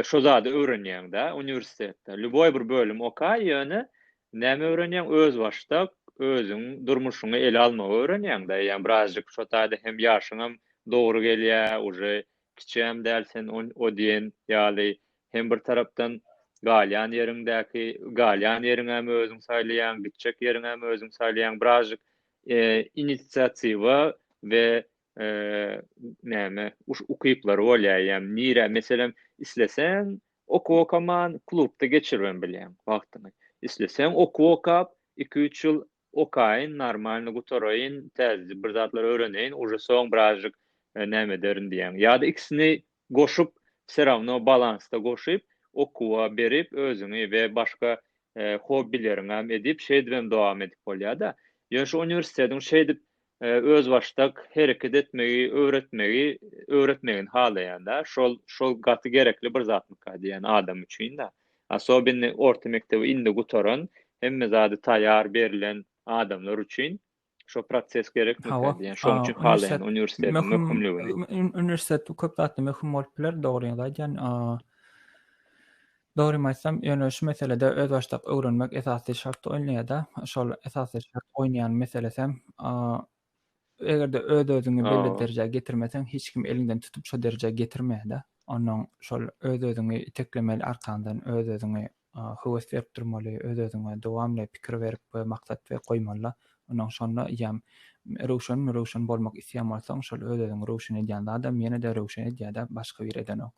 S1: Şo zady öwrenýäňdä uniwersitetde. Lýuboý bir bölüm oka, ýöne näme öwrenýäň, özbaşdak özüň durmuşyňy ele almagy öwrenýäňdä. Ýa birazjyk şo taýda hem ýaşyňam dogry gelýä, uje kiçiäm däl sen o diýen ýaly. Hem bir tarapdan galýan ýeriňdäki, galýan ýeriňäm özüň saýlaýaň, gitjek ýeriňäm özüň saýlaýaň. Birazjyk inisiatiwa we näme ukyplary bolýar ýa nirä meselem isleseň okuw okaman klubda geçiribem bilýäň wagtyňy isleseň okuw okap iki üç ýyl okaýyn normalny gutaraýyn täzede bir zatlar öwreneýin uje soň birazjyk näme ederin diýýäň ýa-da ikisini goşup serawno balansda goşup okuwa berip özüňi we başga hobbileriňem edip şeýdibem dowam edip bolýada ýöne şu uniwersitetiň şeýdip özbaşdak hereket etmegi öwretmegi öwretmegini halaýanda şol şol gaty gerekli bir zatmyka diýýän adam üçinda asobinni orta mekdebi indi gutaran hemme zady taýar berlen adamlar üçin şo proses gerekmika diýýän şoň üçin halaýan uniwersitetiň möhümligini uniwersitet
S2: köp zatda möhüm bolup biler dogryňyzy aýdýan. Dogrymy aýtsam, ýöne şu meselede özbaşdak öwrenmek esasy şart oýnaýada. Şol esasy şart oýnaýan meselesem, egerde öz-özüňi belli derejä getirmeseň, hiç kim eliňden tutup şo derejä getirmeýada. Onnoň şol öz-özüňi iteklemeli arkaňdan, öz-özüňi höwes berip durmaly, öz-özüňe dowamly pikir berip we maksat we goýmaly-da. Onnoň şonda ýam röwşenmi, röwşen bolmak isleýän bolsaň, şol öz-özüňi röwşen edýän zadam ýene-de röwşen edýädä, başga biri edenok.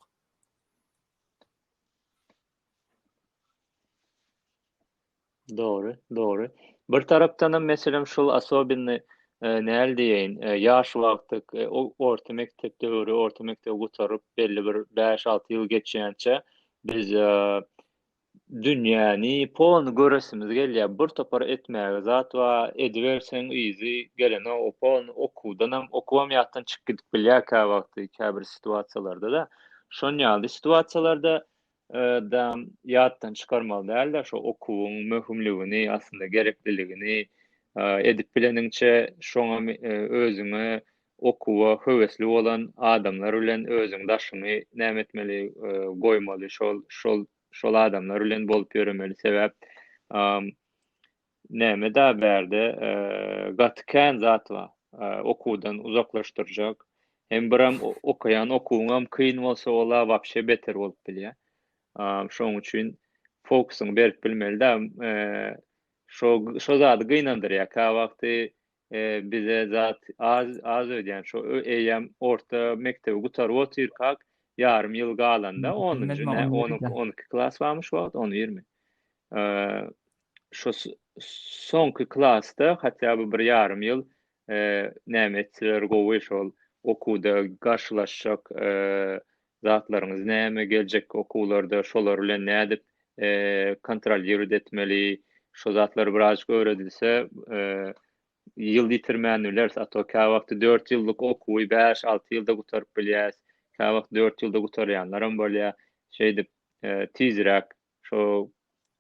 S1: Dogry, dogry. Bir tarapdan hem meselem şul asobinny e, näl diýeýin, e, ýaş wagty e, orta mekdep döwri, orta mekdebi gutaryp belli bir 5-6 ýyl geçýänçä biz Dünýäni, poluny göresimiz gelýär. Bir topar etmäge zat bar. Ediberseň yzy gelene o polny okuwdanam, okubam ýatdan çykyp gidip bilýär käwagty, käbir situasiýalarda-da. Şon ýaly situasiýalarda da ýatdan çykarmaly däldir şo okuwyň möhümligini, aslynda gerekliligini. Edip bileniňçe şoňa özüňe Okuwa höwesli bolan adamlar bilen özüň daşyňy näme etmeli goýmaly şol şol şol adamlar bilen bolup ýöremeli sebäp näme da bärde gaty kän zat bar okuwdan uzaklaşdyrjak hem biram okaýan okuwyňam kyn bolsa ola wapşe beter bolup bilýä şoň üçin fokusyňy berip bilmeli da şo şo zady gynandyrýa kä wagty bize zat az az öýdýän şo eýýäm orta mekdebi gutaryp otyrkak ýarym ýyl galanda onunjy nä on iki on iki klas barmy şu wagt on ýirmi şo soňky klasda hatda bu bir ýarym ýyl näme etseler gowy şol okuwda garşylaşjak zatlaryňyz näme, geljekki okuwlarda şolar bilen nädip kontrolliruot etmeli, şo zatlar birazajyk öwredilse, ýyl ýitirmän bileris, a to käwagty dört ýyllyk okuwy bäş-alty ýylda gutaryp bilýäs, käwagt dört ýylda gutarýanlaram bolýar. Şeýdip, tizräk Şo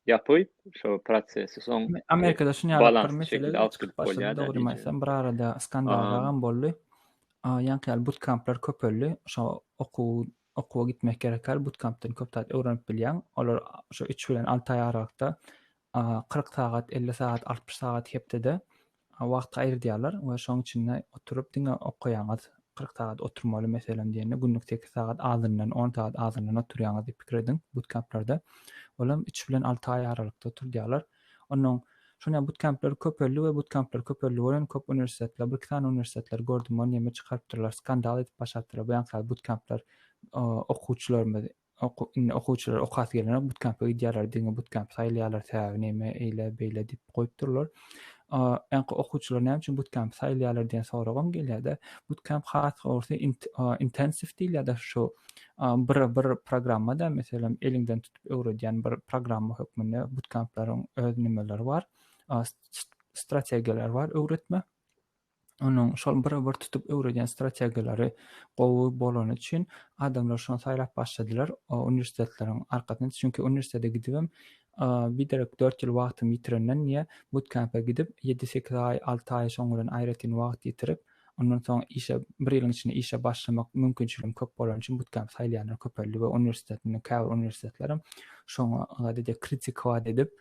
S1: ýapyp, şo prosesi soň Amerikada şuny ýalypdyr
S2: mesele çykyp başlady dogrymy aýtsam bir arada skandalagam boldy. Ýaňky ýaly butkamplar köpeldi. Şo okuw okuwa gitmek gerek ýaly butkampdan köp zat öwrenip bilýäň. Olar şo üç bilen alty aý aralykda kyrk sagat, elli sagat, altmyş sagat hepdede wagt aýyrdýarlar we şoň içinde oturyp diňe okaýaňyz, kyrk sagat oturmaly meselem diýende günlük sekiz sagat azyndan, on sagat azyndan oturýaňyz diýip pikir ediň, butkemplerde olam üç bilen alty aý aralykda oturdýarlar. Onnoň şonda butkempler köpeldi we butkempler köpeldi welin köp uniwersitetler, birki sany uniwersitetler gördüm ony ýeme çykarypdyrlar, skandal edip başardylar, bu ýaňky sagat butkempler okuwçylarymyz Indi okuwçylar okasy gelenok, butkämpe gidýärler, diňe butkämp saýylýarlar, sebäbi näme, eýle, beýle diýip goýup durlar. Ýa-ha okuwçylar näme üçin butkämpi saýylýarlar diýen soragam gelýär-de. Butkämp has dogrusy intensiw diýilýär-de şu bir bir programma-da, meselem, eliňden tutup öwredýän bir programma hökmünde butkämpleriň öz nimeleri bar, strategiýalary bar öwretme. onuň şol bir bir tutup öwredýän strategiýalary gowy bolany üçin adamlar şony saýlap başladylar uniwersitetleriň arkasyna çünki uniwersitete gidibem biderek dört ýyl wagtymy ýitirenden niýe butkempe gidip ýedi sekiz aý alty aý şoň bilen aýratyn wagt ýitirip ondan soň işe bir ýylyň içinde işe başlamak mümkinçiligim köp bolany üçin butkemp saýlaýanlar köpeldi we uniwersitetiň käbir uniwersitetlerem şoňa dede kritikowa edip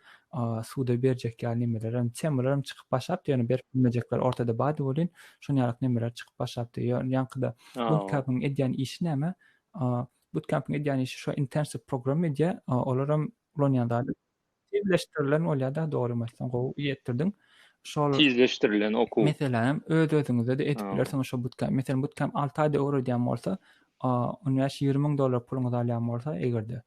S2: suda berjek ýaly nemelerem, temalarym çykyp başlapdy, ýöne berip bilmejekler ortada bady welin, şonuň ýaly nemeler çykyp başlapdy. Ýaňkyda Bootcamp-yň edýän işi näme? Bootcamp-yň edýän işi şo intensiw program edýär, olaram ulanýan zady tizleşdirilen bolýar-da, dogrymy aýtsaň, gowy ýetdirdiň. Şol tizleşdirilen okuw.
S1: Meselem hem öz-özüňize-de
S2: edip bilersiňiz şo Bootcamp. Meselem, Bootcamp alty aýda öwredýän bolsa, on bäş-ýigrimi müň dollar puluňyzy alýan bolsa, eger-de,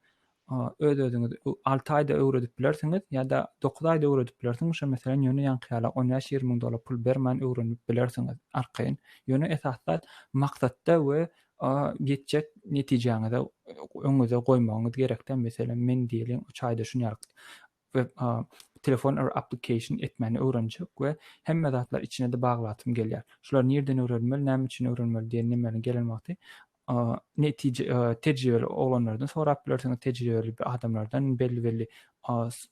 S2: öz özüňiz alty aýda öwredip bilersiňiz ýa-da dokuz aýda öwredip bilersiňiz şo meselem ýöne ýaňky ýaly on bäş ýigrimi müň dollar pul bermän öwrenip bilersiňiz arkaýyn ýöne esas zat maksatda we ýetjek netijäňize öňüňize goýmagyňyz gerek da meselem men diýeliň üç aýda şuny we telefon or application etmäni öwrenjek we hemme zatlar içine de baglasym gelýär şular nirden öwrenmeli näme üçin öwrenmeli diýen nemäni gelen wagty netije tejribeli oglanlardan sorap bilersiňiz tejribeli adamlardan belli belli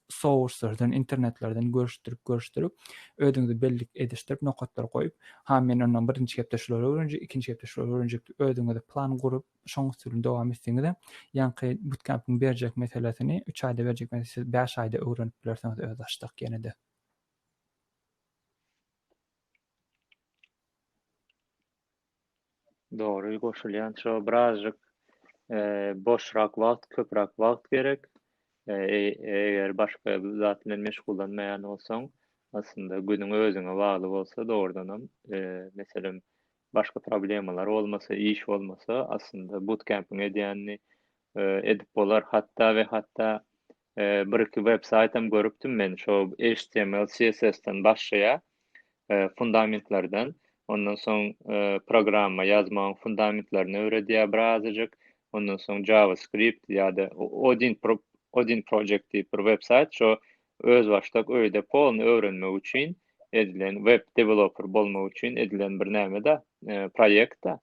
S2: sourcelardan internetlerden görüşdirip görüşdirip özüňizi bellik edişdirip nokatlary goýup ha men ondan birinji hepde şulary öwrenjek ikinji hepde şulary öwrenjek diýip özüňize plan gurup şoň usulyny dowam etseňizem, ýaňky butkempiň berjek meselesini, üç aýda berjek meselesini siz bäş aýda öwrenip bilersiňiz özbaşdak ýene-de.
S1: Dogry goşulýan şo birazjyk boşrak wagt, köpräk wagt gerek. Eger başga zat bilen meşgullanmaýan bolsaň, aslynda günüň özüňe bagly bolsa dogrudanam, meselem, başga problemalar bolmasa, iş bolmasa, aslynda butkempiň edýänini edip bolar. Hatda we hatda bir-iki websaýt hem görüpdim men, şo HTML, CSS-den başlaýar, fundamentlerden. Ondan soň programma ýazmagyň fundamentlerini öwredýär birazajyk. Ondan soň JavaScript ýa-da Odin Pro, Odin Project diýip bir websaýt, şo Özbaşdak öýde porno öwrenmek üçin edilen web developer bolmak üçin edilen bir näme-de, proýekt-de.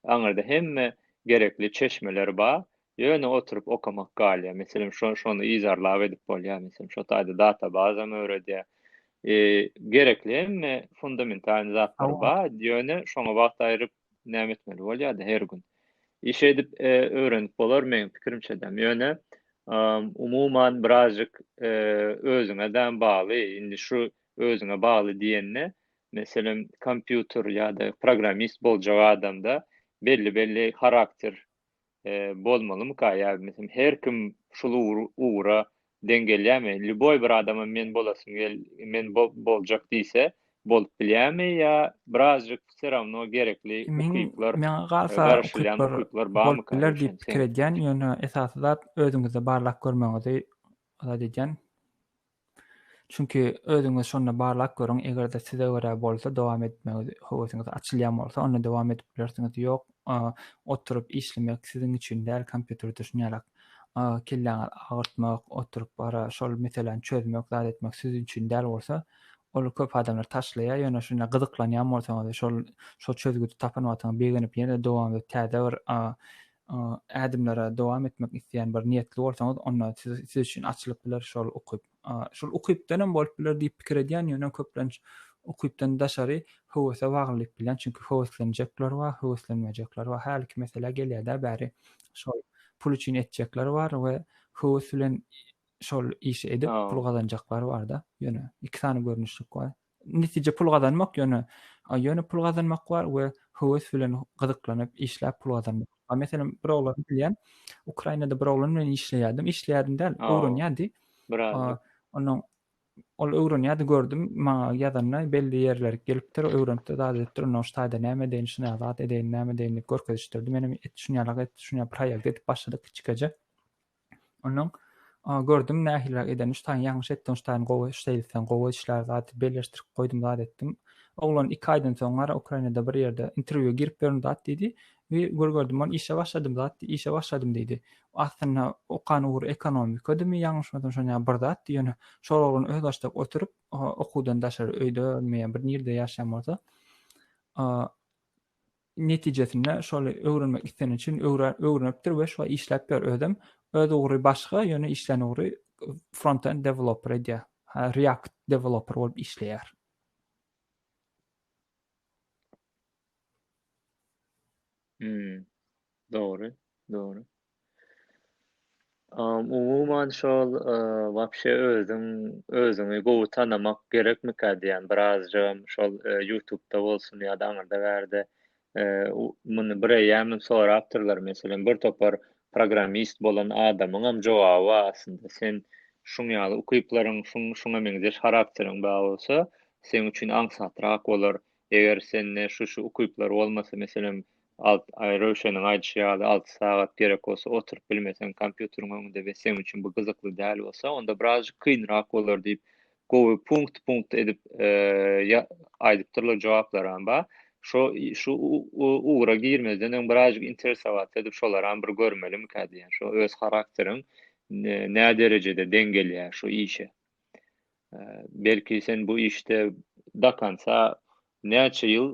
S1: Aňyrda hemme gerekli çeşmeler bar. Ýöne oturyp okamak galýar. Meselem, şo, şony yzarlap edip bolýar. Meselem, şo taýda databazam öwredýär. Gerekli hemme fundamentalny zatlary bar. Ýöne şoňa wagt aýryp näme etmeli bolýardy her gün. Iş edip e, öwrenip bolar meň pikirimçe däm. Ýöne umuman birazjyk e, özüňe däm bagly. Indi şu özüňe bagly diýende, meselem, kompýuter ýa-da programmist boljak adamda belli-belli harakter bolmalymyka ýa meselem her kim şul ugra deň gelýärmi lýuboý bir adama men bolasym men boljak diýse bolup bilýärmi ýa birazjyk wse rawno gerekli ukyplar maňa galsa garaşylýan
S2: ukyplar barmyka biler diýip pikir edýän ýöne esasy zat özüňizde barlap görmegiňizi edýän. Çünki özüňizi şonda barlap görüň, eger-de size görä bolsa, dowam etmegi höwesiňiz açylýan bolsa, onda dowam edip bilersiňiz, ýok, oturyp işlemek siziň üçin däl, kompýuter düşünýärek, kelläňizi agyrtmak, oturyp gara şol meseläni çözmek, zat etmek siziň üçin däl bolsa, ol köp adamlar taşlaýar, ýöne şunda gyzyklanýan bolsaňyz we şol, şol çözgüdi tapan wagtyňyz begenip ýene-de dowam edip täze bir ädimlere dowam etmek isleýän bir niýetli bolsaňyz, onda siz, siz üçin açylyp biler şol ukyp. Şol ukypdan hem bolup biler diýip pikir edýän, ýöne köplenç ukypdan daşary höwese baglylyk bilýän, çünki höweslenjekler bar, höweslenmejekler bar. Hälki mesele gelýär-de bäri şol pul üçin etjekler bar we höwes bilen şol işi edip pul gazanjaklar bar-da. Ýöne iki sany görnüşlik bar. netije pul gazanmak ýöne ýöne pul gazanmak bar we höwes bilen gyzyklanyp işläp pul gazanmak. A meselem bir oglany bilýän, Ukrainada bir oglan bilen işleýärdim. Işleýärdim däl, öwrenýärdi. Ondan ol öwrenýärdi gördüm, maňa ýazanda belli ýerler gelipdir, öwrenipdir, zat edipdir, ondan şu taýda näme edeýin, şu näme zat edeýin, näme edeýin diýip görkezişdirdi. Menem et şunýalyk et, şunýalyk bir haýal edip başladyk kiçikäje. Ondan gördüm nähiliräk edeni şutaýyň ýalňyş etdiň şutaýyň gowy şeýlsen gowy işlär zat belleşdirip goýdum zat etdim. Oglan iki aýdan soň gara Ukrainada bir ýerde interwýua girip ýörün zat diýdi. Wi gör gördüm ony işe başladym zat işe başladym diýdi. Aslynda okan ugry ekonomikadymy ýalňyşmasam şony ýaly bir zatdy ýöne şol oglan özbaşdak oturyp okuwdan daşary öýde ölmeýän bir nirde ýaşaýan bolsa netijesinde şoly öwrenmek isleni üçin öwrenipdir we şoly işläpdir özem. Öz ugry başga, ýöne işlän ugry front-end developer edýär. React developer bolup işleýär. Hmm.
S1: Dogry, dogry. Am, umuman şol, e, wapşe özüň özüňi gowy tanamak gerekmikä diýýän, birazjygam şol, e, ýutubda bolsun ýa-da aňyrda bärde, e, u muny bireýýämem sorapdyrlar, meselem, bir topar programmist bolan adamyňam jogaby bar aslynda. Sen şuň ýaly ukyplaryň, şuň şuňa meňzeş harakteriň bar bolsa, seň üçin aňsatrak bolar, Eger sende şu-şu ukyplar bolmasa, meselem, alt, aý, Röwşeniň aýdyşy ýaly, alty sagat gerek bolsa, oturyp bilmeseň kompýuteriň öňünde we seň üçin bu gyzykly däl bolsa, onda birazjyk kynrak bolar diýip, gowy punkt-punkt edip aýdypdyrlar, jogaplaram bar. Şo, şu ugra girmezden öň birazjyk interesowat edip, şolaram bir görmelimikä diýýän. Şo öz harakteriň näderejede deň gelýär şu işe. Belki sen bu işde dakansa näçe ýyl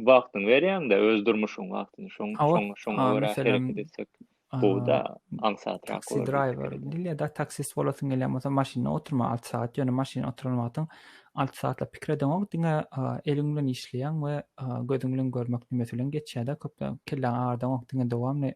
S1: wagtyňy berýäňde öz durmuşyň wagtyny şoň şoň şoň görä hereket etsek bu da aňsat rak bolar. Driver
S2: diýilýär
S1: da
S2: taksist bolasyň gelýän bolsa maşynda oturma 6 saat ýöne maşynda oturan wagtyň 6 saatla pikir edeňok diňe eliň bilen işleýäň we gözüň bilen görmek nimesi bilen geçýär da köp kelläň agyrdaňok diňe dowamly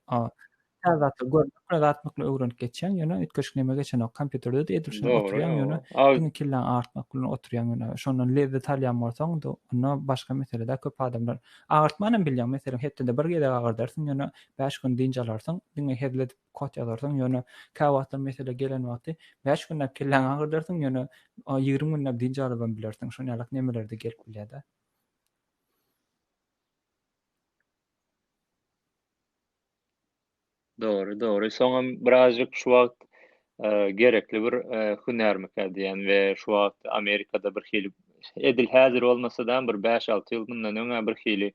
S2: Täze zatlar görmek bilen zat mykly öwrenip geçýäň, ýöne üýtgeşik neme geçenok. Kompýuterde-de edil şuny oturýaň, ýöne
S1: diňe
S2: kelläň agyrtmak bilen oturýaň, ýöne şondan lezzet alýan bolsaň, onda başga mesele-dä. Köp adamlar agyrtmanam bilýäň, meselem, hepdede bir gezek agyrdarsyň, ýöne bäş gün dynç alarsyň, diňe hezil edip kod ýazarsyň, ýöne käwagtlar mesele gelen wagty bäş günläp kelläňi agyrdarsyň, ýöne ýigrimi günläp dynç alybam bilersiň. Şonuň ýaly nemeler-de gelip bilýär-dä.
S1: Dogry, dogry. Soňam birazjyk şu wagt gerekli bir hünärmikä diýen we şu wagt Amerikada bir hili edil häzir bolmasa-da bir bäş-alty ýyl mundan öňä bir hili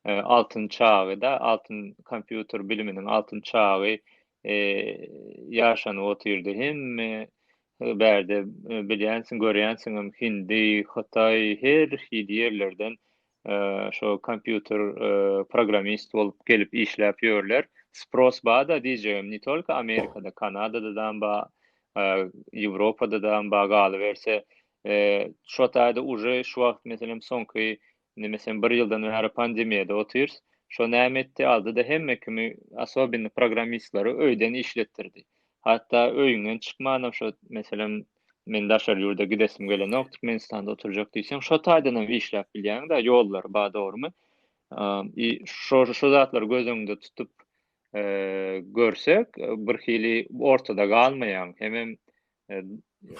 S1: altyn çagy-da, altyn kompýuter biliminiň altyn çagy ýaşanyp otyrdy. Hemme bärde bilýänsiň, görýänsiňem hindi, hytaý her hili ýerlerden şo kompýuter programmist bolup gelip işläp ýörler. Spros bada diýjegim, ne tolko Amerikada, Kanadada da ba, Ýewropada da ba galyberse, şo taýda uje şu wagt meselem soňky nemesem bir ýyldan bäri pandemiýada otyrys. Şo näme etdi? Aldy-da hemme kimi, asobini programmistlary öýden işletdirdi. Hatda öýüňden çykmanam şo meselem Men daşary ýurda gidesim gelenok, Türkmenistanda oturjak diýseň, şo taýdanam işläp bilýäň-dä, ýollary bar, dogrumy? I şo şo zatlary göz öňünde tutup görsek, birhili ortada galmaýaň, hemem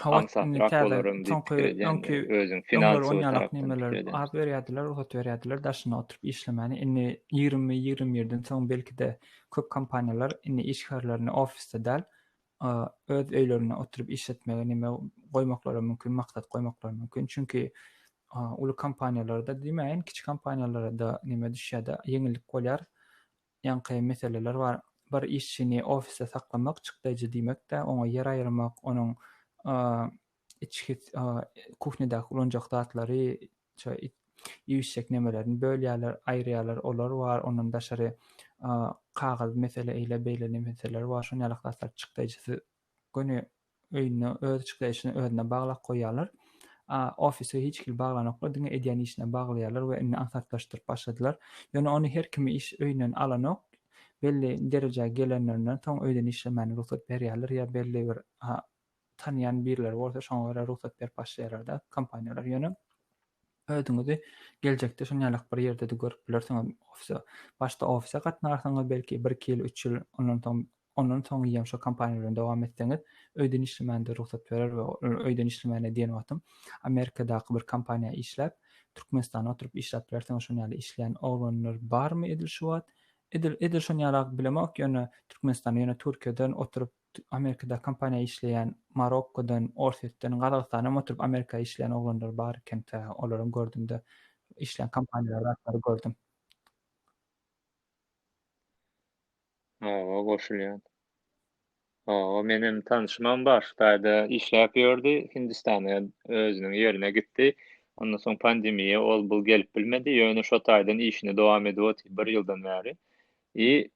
S1: aňsatrak bolaryň diýip pikir edýän, özüň finansowy tarapdan pikir edýän. Ad berýärdiler,
S2: rugsat berýärdiler daşynda oturyp işlemäni. Indi ýigrimi, ýigrimi birden soň belki-de köp kompaniýalar indi işgärlerini ofisde däl, a öz öýlerinde oturyp işletmegi neme goýmaklary mümkin maksat goýmaklary mümkin çünki a uly kompaniýalarda diýmäýin kiçi kompaniýalarda neme düşýärde ýeňillik bolýar ýaňky meseleler bar bir işçini ofisde saklamak çykdaýjy diýmekde oňa ýer aýyrmak onuň a içki a kuhnýadaky ulanjak zatlary Çö it iýişjek nemelerini bölýärler, aýyrýarlar, olar bar, ondan daşary kagyz mesele eýle beýle nemeseler bar, şon ýalak zatlar çykdaýjysy göni öýünde öz çykdaýjysyny özüne baglap goýýarlar. A ofise hiç hili baglanoklar, diňe edýän işine baglaýarlar we indi aňsatlaşdyryp başladylar. Ýöne ony her kimi iş öýünden alanok, belli derejä gelenlerinden soň öýden işlemäni rugsat berýärler ýa belli bir tanýan birleri bolsa şoňa görä rugsat berip başlaýarlar-da kompaniýalar ýöne özüňizi geljekde şuny ýalak bir ýerde-de görüp bilersiňiz ofise başda ofise gatnarsyňyz belki bir iki ýyl üç ýyl ondan soň ondan soň ýem şo kompaniýa bilen dowam etseňiz öýden işlemände rugsat berer we öýden işlemäne diýen wagtym amerikadaky bir kompaniýa işläp türkmenistana oturyp işläp bilersiňiz şuny ýaly işleýän oglanlar barmy edil şu wagt edil edil şuny ýalak bilemok ýöne türkmenistana ýöne türkiýeden oturyp Amerikada kompaniýa işleýän Marokkodan, Orsýetden, Gazagystandanam oturyp Amerika işleýän oglanlar bar ekenta. Olaram gördümde işleýän kompaniýalary zatlary gördüm.
S1: Hawa goşulýan. Hawa menem tanşymam bar Hytaýda işläp ýördi Hindistana özüniň ýerine gitdi. Ondan soň pandemiýa ol bul gelip bilmedi ýöne şo taýdan işini dowam edip otyr bir ýyldan bäri. I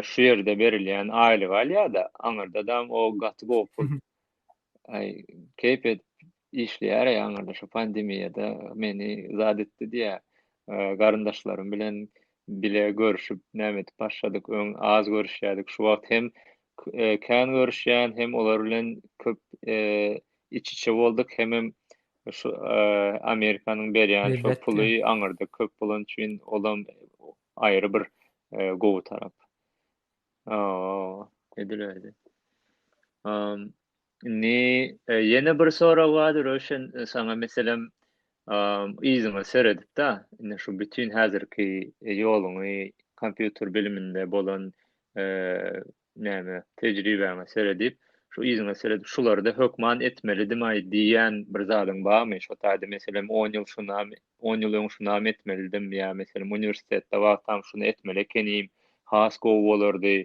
S1: şu ýerde berilýän aýlygy alýar-da, aňyrdadam o gaty gowy pul. Aý, keýp edip işleýär, aý, aňyrda şu pandemiýada meni zat etdi diýýär. Garyndaşlarym bilen bile görşüp, näme edip başladyk, öň az görüşýärdik, şu wagt hem kän görüşýän, hem olar bilen köp iç-içe bolduk, hemem şu Amerikanyň berýän şu puly aňyrda
S2: köp
S1: bolan üçin, olam aýry bir gowy tarap. Edilerdi. Indi ýene bir sorag bardy Röşen saňa meselem yzyňa seredip-de, indi şu bütin häzirki ýoluňy kompýuter biliminde bolan Näme, tejribäňe seredip, şu yzyňa seredip, şulary-da hökman etmelidim-aý diýýän bir zadyň barmy? Şo taýda, meselem, on ýyl şunam, on ýyl öň şunam etmelidim ýa, meselem, uniwersitetde wagtam şuny etmeli ekenim, has gowy bolardy,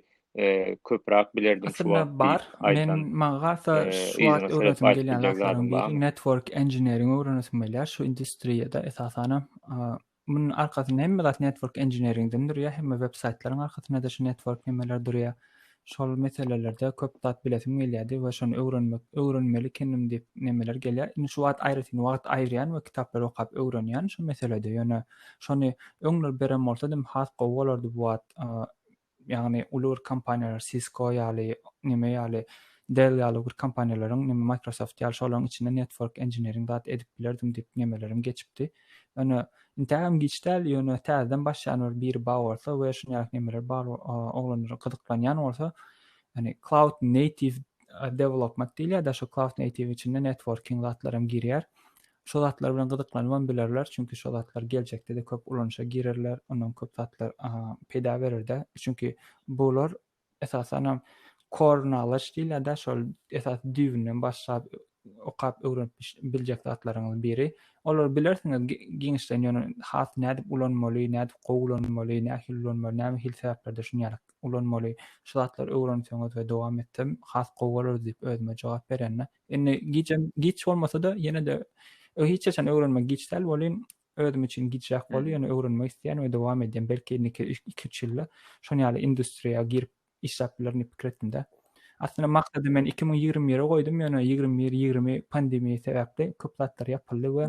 S1: köpräk bilerdim şu wagt diýip aýdan, yzyňa seredip aýdyp biljek zadyň
S2: barmy?
S1: Aslynda
S2: bar. Meň, maňa
S1: has-da şu
S2: wagt öwresim gelýän
S1: zatlaryň biri
S2: network engineering öwrenesim gelýär, şu industriýada, esasanam, Munuň arkasynda hemme zat network engineeringden durýar, hemme web saýtlaryň arkasynda-da şu network nemeler durýar. Şol meselelerde köp zat bilesim gelýärdi we şony öwrenmek, öwrenmeli ekenim diýip nemeler gelýär. Indi şu wagt aýratyn wagt aýyrýan we kitaplary okap öwrenýän şu meselede. Ýöne şony öňler beren bolsadym has gowy bolardy bu wagt Ýagny uly bir kompaniýalar Cisco ýaly, neme ýaly, Dell ýaly bir kompaniýalaryň, neme Microsoft ýaly şolaryň içinde network engineering zat edip bilerdim diýip nemelerim geçipdi. Ýöne intäk hem giç däl, ýöne täzeden başlaýan bir biri bar bolsa we şuny ýaly nemeler bar oglanlar gyzyklanýan bolsa, ýagny cloud native development diýilýär-de, şu cloud native içinde networking zatlar hem girýär. Şo zatlar bilen gyzyklanybam bilerler, çünki şo zatlar geljekde-de köp ulanyşa girerler, ondan köp zatlar peýda berer-de. Çünki bular esasanam core knowledge diýilýär-de, şol esasy düýbünden başlap okap öwrenip biljek zatlaryňyzyň biri. Olary bilersiňiz giňişleýin, ýöne has nädip ulanmaly, nädip gowy ulanmaly, nähili ulanmaly, näme hili sebäplerde şuny ýaly ulanmaly, şu zatlary öwrenseňiz we dowam etsem has gowy bolardy diýip özüme jogap berende, Indi gijäm giç bolmasa-da, ýene-de hiç haçan öwrenmek giç däl welin, özüm üçin gijräk boldy, ýöne öwrenmek isleýän we dowam edýän, belki indiki iki, üç ýylda şonuň ýaly industriýa girip işläp bilerin diýip pikir etdim-de. Aslynda maksady men iki müň ýigrimi bire goýdum, ýöne ýigrimi bir, ýigrimi pandemiýa sebäpli köp zatlar ýapyldy we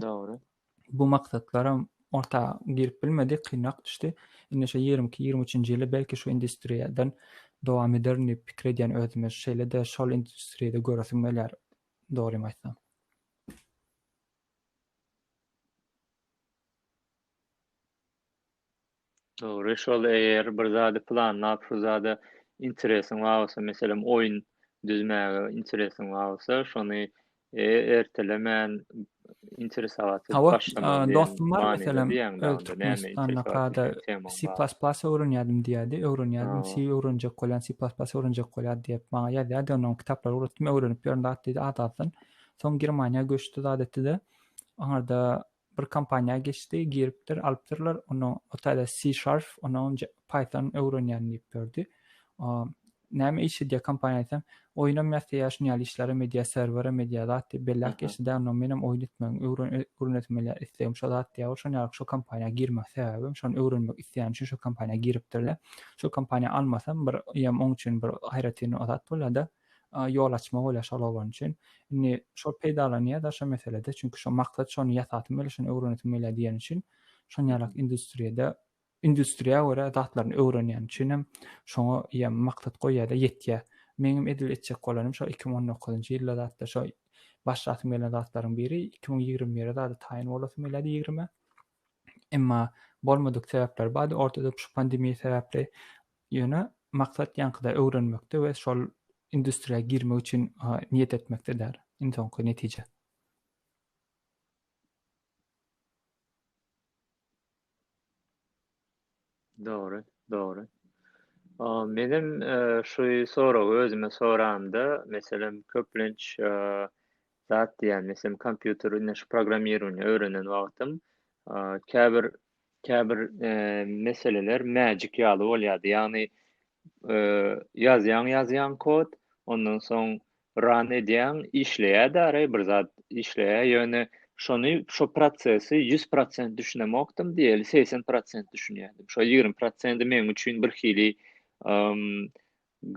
S2: bu
S1: maksatlaram
S2: orta girip bilmedi, kynrak düşdi. Indi şu ýigrimi iki, ýigrimi üçünji ýyla belki şu industriýadan dowam ederin diýip pikir edýän özüme. Şeýle-de şol industriýada göresim gelýär, dogrymy aýtsam.
S1: Dogry şol eger bir zady planlap şu zada interesiň bar bolsa meselem oýun düzmäge interesiň bar bolsa şony ertelemän interesawaty başlamak diýen dostum
S2: bar
S1: meselem
S2: öz türkmenistanda kada c
S1: plas
S2: plas
S1: öwrenýärdim diýýärdi
S2: öwrenýärdim c öwrenjek bolýan
S1: c
S2: plas plas öwrenjek bolýar diýip maňa ýazýardy onuň kitaplary ugratdym öwrenip ýörün zat diýdi adalsyn soň germaniýa göçdi zat etdide aňarda bir kompaniýa geçdi giripdir alypdyrlar onuň otayda si şarf onuň paýton öwrenýän diýip berdi näme iş edýär kompaniýa aýtsam oýnam ýasaýar şuny ýaly işler hem edýär serwer hem edýär zat diýip belläp geçdi da ondan menem oýun etmegim öwrenesim gelýär islegim şo zat diýýär ol şonuň ýaly şo kompaniýa girmek sebäbim şony öwrenmek isleýän üçin şo kompaniýa giripdirle şo kompaniýa almasam bir ýam oň üçin bir aýratyn o zat bolýada ýol açmak bolýar şol oglan üçin. Indi şol peýdalanýar-da şo meselede, çünki şo maksat şony ýasasym gelýär, şony öwrenesim gelýär diýen üçin şon ýalak industriýada, industriýa görä zatlaryny öwrenýän üçin hem şoňa ýa maksat goýýar-da ýetýär. Meňem edil etjek bolanym şo iki müň on dokuzynjy ýylda zatda şo başlasym gelen zatlaryň biri iki müň ýigrimi bire zada taýyn bolasym gelýärdi ýigrime. Emma bolmadyk sebäpler bardy ortada şu pandemiýa sebäpli. Ýöne maksat ýaňkyda öwrenmekde we şol industriýa girmek üçin niýet etmekde däl. Iň soňky netije.
S1: Dogry, dogry. Menem şu soragy özüme soramda, meselem, köplenç zat diýýän, meselem, kompýuter indi şu programmirowaniýa öwrenen wagtym, käbir käbir meseleler magic ýaly bolýardy. Ýagny, ýazýaň, ýazýaň kod, ondan soň Ran edýäň işleýä däri bir zat işleýä ýöne şony şo prosesi ýüz prosent düşünemokdym diýeli segsen prosent düşünýädim şo ýigrimi prosendi meň üçin bir hili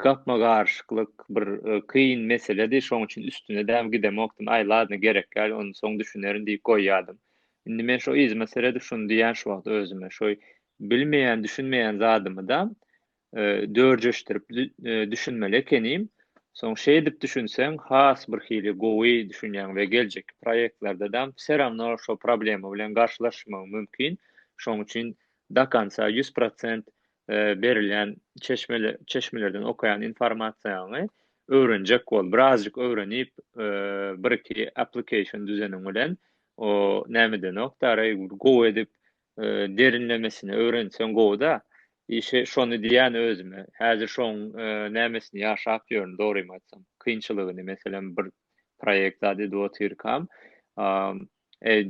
S1: gapma garşyklyk bir kyn meseledi şoň üçin üstüne däm gidemokdym aý ladno gerek ýal ony soň düşünerin diýip goýýadym indi men şo yzyma seredip şuny diýýän şu wagt özüme şo bilmeýän düşünmeýän zadymydam dörjeşdirip düşünmeli ekenim. Soň şeýdip düşünseň has bir hili gowy düşünýäň we geljekki proýektlerdeam wse rawno şo problema bilen garşylaşmagyň mümkin. Şoň üçin do konca ýüz prosent berilýän çeşmelerden okaýan informasiýaňy öwrenjek bol. Birazjyk öwrenip bir iki application düzeniň bilen o nämedenok dagy gowy edip derinlemesine öwrenseň gowyda işe şony diýýän özüme häzir şoň nämesini ýaşap ýörün dogrymy aýtsam kynçylygyny meselem bir proýekt zat edip otyrkam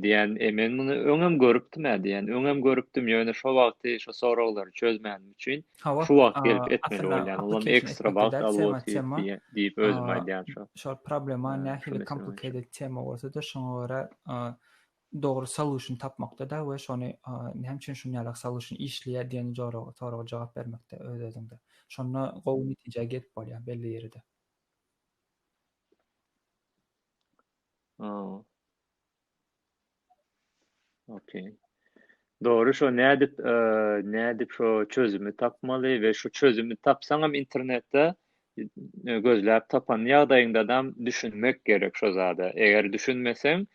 S1: diýýän men muny öňem görüpdim ä diýýän öňem görüpdim ýöne şo wagty şo soraglary çözmänim üçin şu wagt gelip etmeli bolýan olam ekstra wagt alyp otyr diýip özüme aýdýan şo şol problema
S2: nähili komplikated tema bolsada şoňa görä dogry solution tapmakda-da we şony näme üçin şun ýalak solution işleýär diýen joraga, soraga jogap bermekde öz-özüňde. Şonda gowy netijä gelip bolýar belli ýerde.
S1: Okey. Dogry şo nädip nädip şo çözümi tapmaly we şu çözümi tapsaňam internetde gözläp tapan ýagdaýyňdadam düşünmek gerek şo zada eger düşünmeseň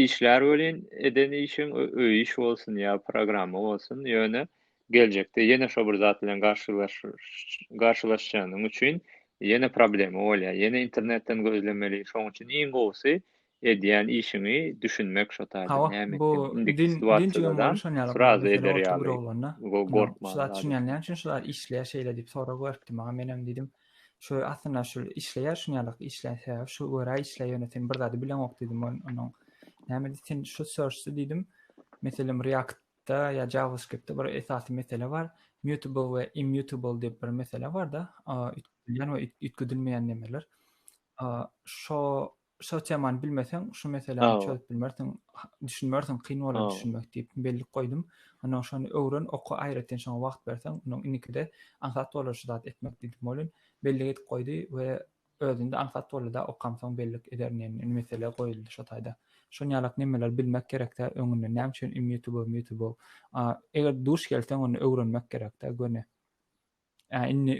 S1: işlär welin eden işiň öý iş bolsun ýa programma bolsun ýöne geljekde ýene şo bir zat bilen garşylaşjagyň üçin ýene problema bolýar ýene internetden gözlemeli şoň üçin iň gowusy Edýän işiňi düşünmek şo taýda Hawa näme bu etdigiňi indiki din din
S2: jigim situasiýadadan boluşan ýaly bu sraz mesele
S1: eder oturyp bir ýaly oglanda go ýa gorkman şuza zady. düşünýän näme üçin
S2: şular işleýär şeýle diýip sorag beripdi maňa menem diýdim şu aslynda şu işleýär şunýalak işleýän sebäbi şu görä işleýär ýöne sen bir zady bileňok diýdim on onuň näme diýdi sen şu search-de diýdim meselem react-da ýa javascript-de bir esasy mesele bar mutable we immutable diýip bir mesele barda a üýtgedilýän we üýtgedilmeýän nemeler a şo Şo temany bilmeseň, şu meseläni çözüp bilmersiň, düşünmersiň, kyn bolar düşünmek diýip bellik goýdum. Ondan şony öwren, oka, aýratyn şoňa wagt berseň, ondan indikide aňsat bolar şu zat etmek diýdim. Molin bellik edip goýdy we özünde aňsat boldy-da, okamsoň bellik ederin diýen mesele goýuldy şo taýda. Şon ýalak nemeler bilmek gerek-dä öňünden, näme üçin im ýutubow, mýutubow. Eger duş gelseň, onda öwrenmek gerek-dä göni. Ä indi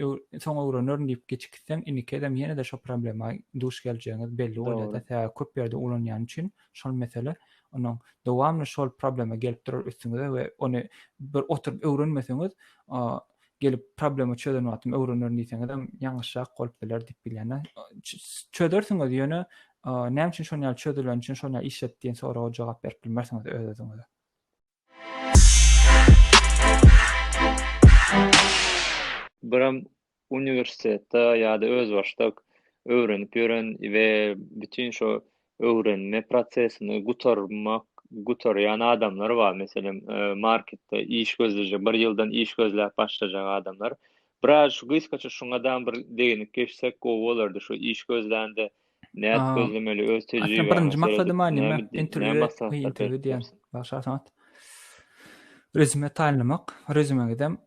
S2: soň öwrenerin diýip geçip gitseň indiki gezem ýene-de şo problema duş geljegiňiz belli bolýar-da sebäbi köp ýerde ulanýan üçin şol mesele onuň dowamly şol problema gelip durar üstüňize we ony bir oturyp öwrenmeseňiz gelip problema çözen wagtym öwrenerin diýseňizem ýalňyşrak bolup biler diýip bilýän-ä çözersiňiz ýöne näme üçin şonýaly çözülen üçin şonýaly işlet diýen soraga jogap berip bilmersiňiz öz-özüňize.
S1: Biram uniwersitetde ýa-da özbaşdak öwrenip ýören we bütin şu öwrenme prosesini gutarmak, gutarýan adamlar bar. Meselem, marketde iş gözleýjek, bir ýyldan iş gözläp başlajak adamlar. Biraz şu gysgaça şuňa dam bir degnik geçsek gowy bolardy, şu iş gözlände Nädip gözlemeli öz tejribäňe birinji maksady ma nime
S2: interwýu interwýu diýen bagşy asamat rezüme taýynlamak rezümegidem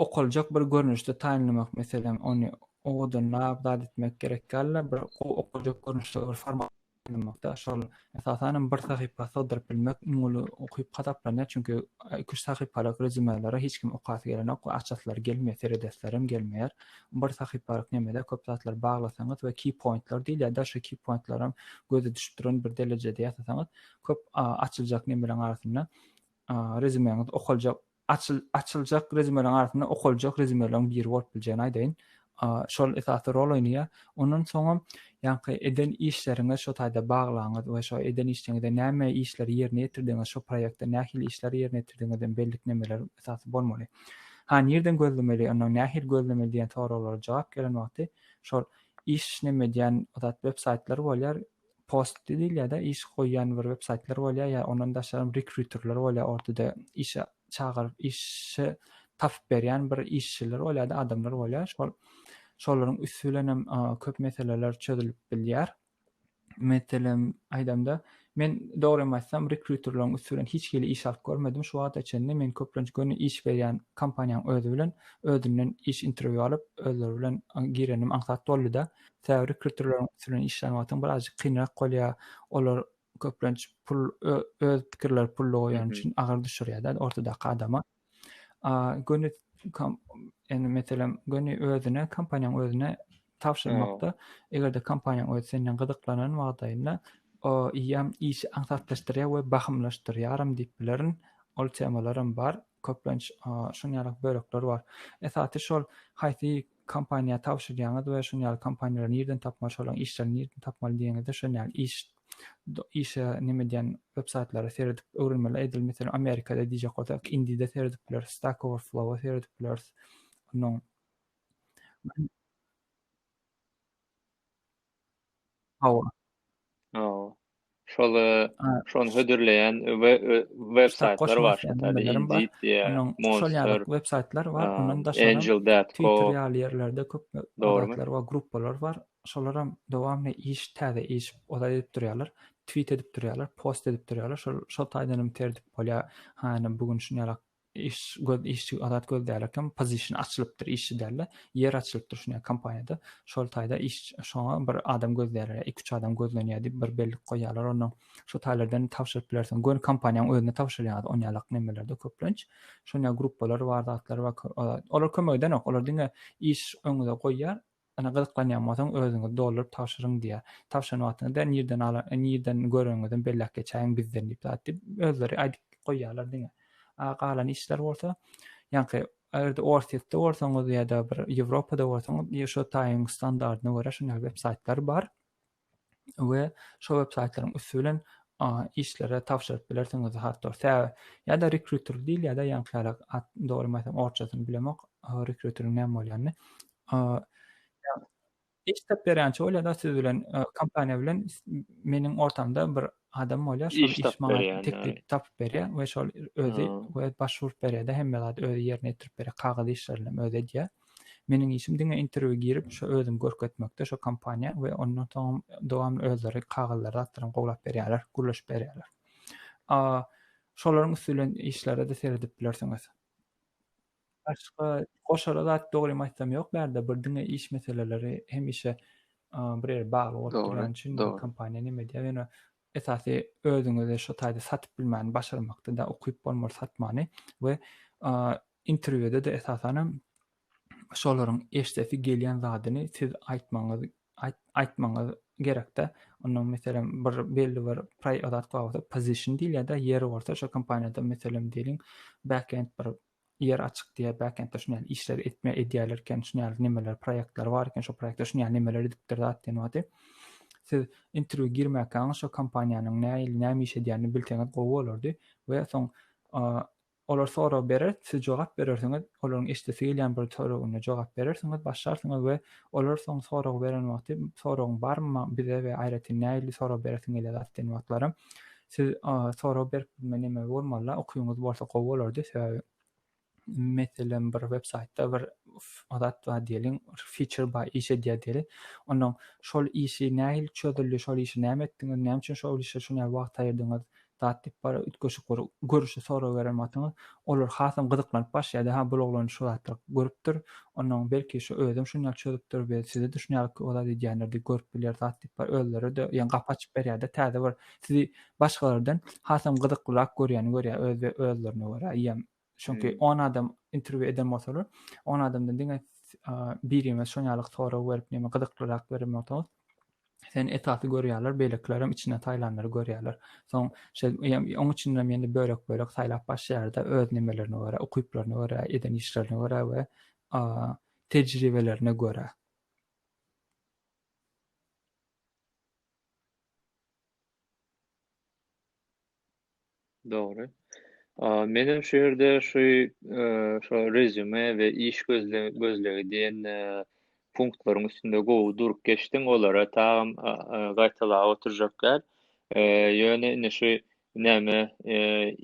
S2: okaljak bir görnüşde taýynlamak meselem ony owadanlap zat etmek gerek ýaly bir gowy okaljak görnüşde bir format taýynlamakda şol Esasanam bir sahypa sygdyryp bilmek iň uly ukyp hasaplanýar, çünki iki-üç sahypalyk rezümelere hiç kim okasy gelenok we açasylary gelmeýär, seredesilerem gelmeýär. Bir sahypalyk nemede köp zatlary baglasaňyz we key pointler diýilýär, daşy key pointleram göze düşüp duran bir derejede ýasasaňyz köp açyljak nemeleň arasynda rezümeňiz okaljak. açyljak rezümeleriň arasynda okaljak rezümeleriň biri bolup biljegini aýdaýyn. Şol esasy rol oýnaýar. Ondan soňam ýaňky eden işleriňiz şo taýda baglaňyz we şo eden işleriňizde näme işleri ýerine ýetirdiňiz, şo proýektde nähili işleri ýerine ýetirdiňiz diýen belliklemeler esasy bolmaly. Ha, nireden gözlemeli, ondan nähili gözlemeli diýen soraglara jogap gelen wagty şol iş neme diýen web saýtlary bolýar, post diýilýär-de, iş goýýan bir websaýtlar bolýar, ýa ondan daşaram rekruterler bolýar, ortada işe çagyryp, işi tapyp berýän bir işçiler bolýar-da, adamlar bolýar. Şol şolaryň üsti bilen hem köp meseleler çözülip bilýär. Meselem aýdamda, men dogrymy aýtsam, rekruterleriň üsti bilen hiç hili iş alyp görmedim şu wagta çenli. Men köplenç göni iş berýän kompaniýanyň özi bilen özünden iş interwýu alyp, özleri bilen girenim aňsat boldy-da. Täbiri kültirleriň üstünden işlän wagtyň birazjyk kynrak bolýar. Olar köplenç pul öz pikirleri pulda goýan üçin agyr
S1: düşürýärler
S2: ortadaky adama. A göni indi meselem göni özüne kompaniýaň özüne tabşyrmakda eger-de kompaniýaň özi senden gyzyklanan wagdaýynda o ýam işi aňsatlaşdyrýar we bahymlaşdyrýaram diýip bilerin. Ol temalaram bar. köplenç şuny ýaly bölekler bar. Esasy şol haýsy kompaniýa tabşyrýaňyz we şuny ýaly kompaniýalary nirden tapmaly şolaryň işlerini nirden tapmaly diýeňizde şuny ýaly iş işe neme diýen web saýtlara seredip öwrenmeli edil meselem amerikada diýjek bolsak indide seredip bileris stack overflowa seredip bileris onuň Hawa. Hawa.
S1: Şol şony hödürleýän we
S2: web
S1: saýtlar
S2: bar
S1: şonda web
S2: saýtlar bar.
S1: Ondan
S2: daşary Twitter ýaly
S1: ýerlerde
S2: köp zatlar bar,
S1: gruppalar
S2: bar. Şolaram dowamly iş täze iş ozal edip durýarlar. Twit edip durýarlar, post edip durýarlar. Şol şol taýdanam tertip bolýar. Haýyna bu gün şuny ýalak Iş göz işçi adat göz dälä kim pozişin açylypdyr işçi dälä ýer açylypdyr şuny kompaniýada şol taýda iş şoňa bir adam göz dälä iki üç adam gözlenýä diýip bir bellik goýýalar ondan şo taýlardan tabşyryp bilersiň göni kompaniýaň özüne tabşyrýaňyz on ýalak nemelerde köplenç şonýa gruppalar bar zatlar bar olar kömek edenok olar diňe iş öňüňize goýýar Ýöne gyzyklanýan bolsaň özüňiz dolduryp tabşyryň diýýär. Tabşyran wagtyňyzda nirden alan nirden göreniňizem belläp geçäýiň bizden diýip zat diýip özleri aýdyp goýýarlar diňe. A galan işler bolsa ýaňky eger-de Orsýetde bolsaňyz ýa-da bir Ýewropada bolsaňyz ýa şo taýyň standardyna görä şuny websaýtlary bar. we şo web saýtlaryň üsti bilen işlere tabşyryp bilersiňiz hattor tä ýa-da rekruter diýil ýa-da ýaňkylara at dogry bilmesem orçasyny bilemok rekruteriň näme bolýanyny iş tap berýänçi bol ýa-da siz bilen kompaniýa bilen meniň ortamda bir adam bolýar şol iş maňa
S1: teklip tapyp
S2: berýär we şol özi we başwurt berýärde hemme zat özi ýerine ýetirip berýär kagyz işlerini özi edýär Meniň işim diňe interwýu girip şo özümi görkezmekde şo kompaniýa we ondan soňam dowamly özleri kagyzlary zatlaram gowlap berýärler gürleşip berýärler. A şolaryň üsti bilen işlere-de seredip bilersiňiz. Başga goşara zat dogrymy aýtsam ýok bärde bir diňe iş meseleleri hemişe bir ýere bagly bolup durýan üçin kompaniýa neme diýýär
S1: ýöne
S2: esasy özüňizi şo taýda satyp bilmäni başarmakda da ukyp bolmaly satmany we Interwýuda-da esasanam şolaryň eşdesi gelýän zadyny siz aýtmagyňyz aýtmagyňyz gerekde. Onuň meselem bir belli bir zat bar bolsa position diýilýärde, ýeri bolsa şo kompaniýada meselem diýeliň backend bir ýer açyk diýýär, backendde şuny ýaly işler etme edýärler eken, şuny ýaly nemeler proýektler bar eken, şo proýektde şuny ýaly nemeler edipdir zat diýen wagty siz interwýu girmäkäňiz şo kompaniýanyň nähili näme iş edýänini bilseňiz gowy bolardy we soň Olar sorag berer, siz jogap berersiňiz, olaryň eşidesi gelýän bir soragynda jogap berersiňiz, başlarsyňyz we olar soň sorag beren wagty soragyň barmy maň bize we aýratyn nähili sorag beresiň gelýä zat diýen wagtlaram siz sorag berip bilme neme bolmalyda ukyňyz bolsa gowy bolardy sebäbi meselem bir web saýtda bir zat bar diýeliň feature bar iş edýär diýeli onnoň şol işi nähili çözüldi şol işi näme etdiňiz näme üçin şol işe şunýa wagt aýyrdyňyz Zat diýip bara üýtgeşik bir görüşi sorag berem atyňyz. Olar hasam gyzyklanyp başlaýardy, ha bul oglan şu zatlar görüpdir, onnoň belki şu özem şun ýaly çözüpdir we size düşünýärlik ki o zat edýänlerdi görüp bilýär zat diýip bar özleri-de ýaňy gapy açyp berýärdi täze bir sizi başgalardan hasam gyzyklyrak görýäni görýär öz we özlerine görä ýa Çünki on adam intervýu eden bolsalar, on adamdan diňe birimiz şon ýaly sorag berip, näme gyzyklyrak beren bolsaňyz, sen esasy görýärler, beýlekilerem içinden saýlanlary görýärler. Soň şe oň üçin hem ýene bölek-bölek saýlap başlaýarda öz nimelerine görä, ukyplaryna görä, eden işlerine görä we tejribelerine görä.
S1: Dogry. Menem şu ýerde şu şo rezüme we iş gözlegi diýen punktlaryň üstünde gowy durup geçdiň. Olara tagam gaýtalap oturjak däl. Ýöne indi şu näme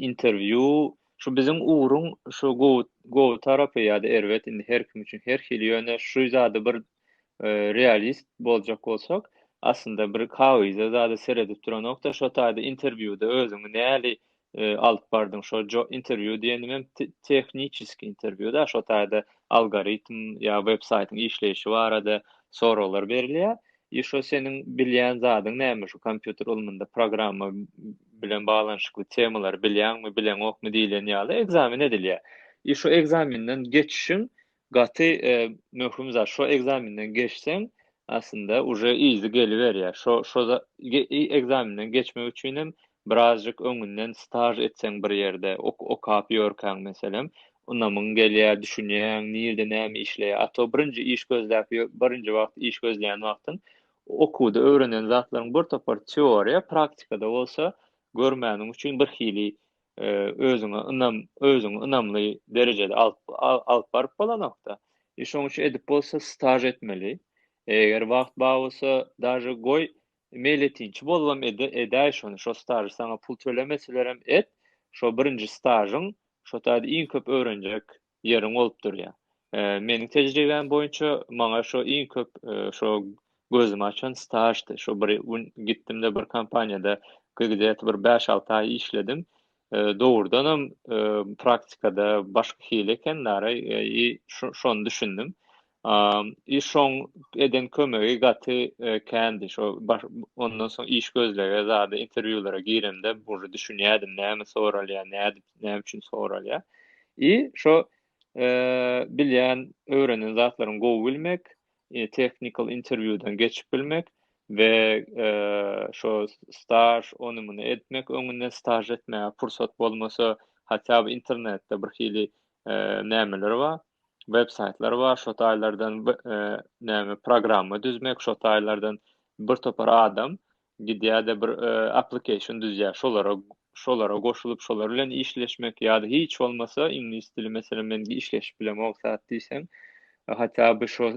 S1: interwýu şu biziň ugruň şu gowy gowy tarapy ýa-da erbet indi her kim üçin her hili ýöne şu zady bir realist boljak bolsak, aslynda bir kagyza zada seredip duranokda, şo taýda interwýuda özüňi näli alyp bardyň, şo interwýu diýenim hem tehniçeskiý interwýuda, şo taýda algoritm ýa websaýtyň işleýşi barada soraglar berilýär. I şo seniň bilýän zadyň näme şu kompýuter ylmynda programma bilen baglanyşykly temalary bilýäňmi, bileňokmy diýlen ýaly ekzamen edilýär. I şo ekzamenden geçişiň Gaty möhüm zat şo ekzamenden geçseň aslynda uje yzy geliberýär şo şo ekzamenden geçmek üçinem birazjyk öňünden staž etseň bir ýerde okap ýörkäň meselem ynamyň gelýär düşünýäň nirde näme işleýär a to birinji iş gözläp birinji wagt iş gözleýän wagtyň okuwda öwrenen zatlaryň bir topar teoriýa praktikada bolsa görmäniň üçin birhili özüňe ynam, özüňi ynamly derejede alyp, alyp baryp bolanokda. E, şoň üçin edip bolsa staž etmeli. Eger wagt bar bolsa, daže goý, meýletinçi bolubam edäý şony, şo stažy saňa pul tölemeselerem et, şo birinji stažyň, şo taýda iň köp öwrenjek ýeriň bolup durýar. Meniň tejribäm boýunça maňa şo iň köp şo gözümi açan staždy. Şo bir gün gitdim-de bir kompaniýada gideti bir bäş-alty aý işledim. Dogrudanam praktikada başga hili eken, nara, şony düşündim. Işoň eden kömegi gaty kändi. Şo ondan soň iş gözlege zada interwýulara giremde uje düşünýädim näme soralýar, nädip, näme üçin soralýar. I şo bilýän, öwrenen zatlaryň gowy bilmek, technical interwýudan geçip bilmek we şo staž ony-muny etmek, öňünden staž etmäge pursat bolmasa, hatda internetde birhili nämeler bar. web saýtlary bar şo taýlardan näme programma düzmek şo taýlardan bir topar adam gidýärde bir application düzýär şolara şolara goşulyp şolar bilen işleşmek ýa-da hiç bolmasa iňlis dili meselem men işleşip bilemok zat diýseň hatda bu şo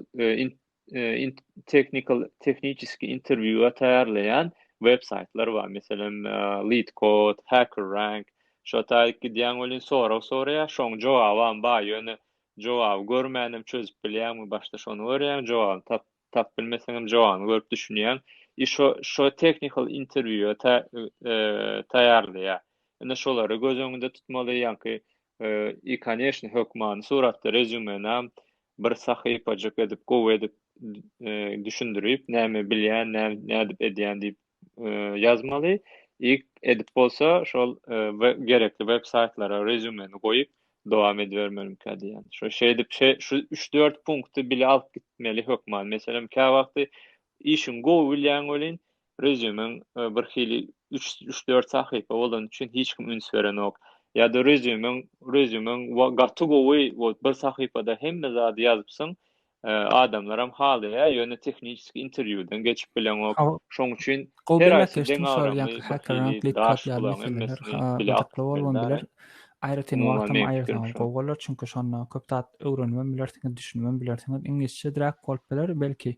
S1: technical tehniki interwýua taýýarlaýan web saýtlar bar meselem lead code hacker rank şo taýyk gidýäň welin sorag soraýar şoň jogabam bar ýöne jogaby görmänem çözüp bilýäňmi başda şony görýäň jogabyny tap tap bilmeseňem jogabyny görüp düşünýäň i şo şo technical interwýua taýýarlaýar indi şolary göz öňünde tutmaly ýaňky I koneşno hökmany suratda rezýumenam bir sahypajyk edip gowy edip düşündirip näme bilýän nädip edýän diýip ýazmaly i edip bolsa şol gerekli web saýtlara rezýumeni goýup dowam edibermelikä diýýän şo şeýdip şe şu üç dört punkty bile alyp gitmeli hökman meselem käwagty işiňi gowy bilýäň welin Resume-ň birhili üç, üç-dört sahypa bolany üçin hiç kim üns berenok. Ýa-da resume-ň, resume-ň gaty gowy, wot bir sahypada hemme zady ýazypsyň, adamlaram halaýar, ýöne tehniçeskiý interwýudan geçip bileňok. Şoň üçin her haýsy deň agramly birhili daş
S2: bulaň, hemmesini bile akyp bilmän. Aýratyn wagtam aýyrsaňyz gowy bolar, çünki şonda köp zat öwrenibem bilersiňiz, düşünibem bilersiňiz. Iňlisçe-diräk bolup biler belki,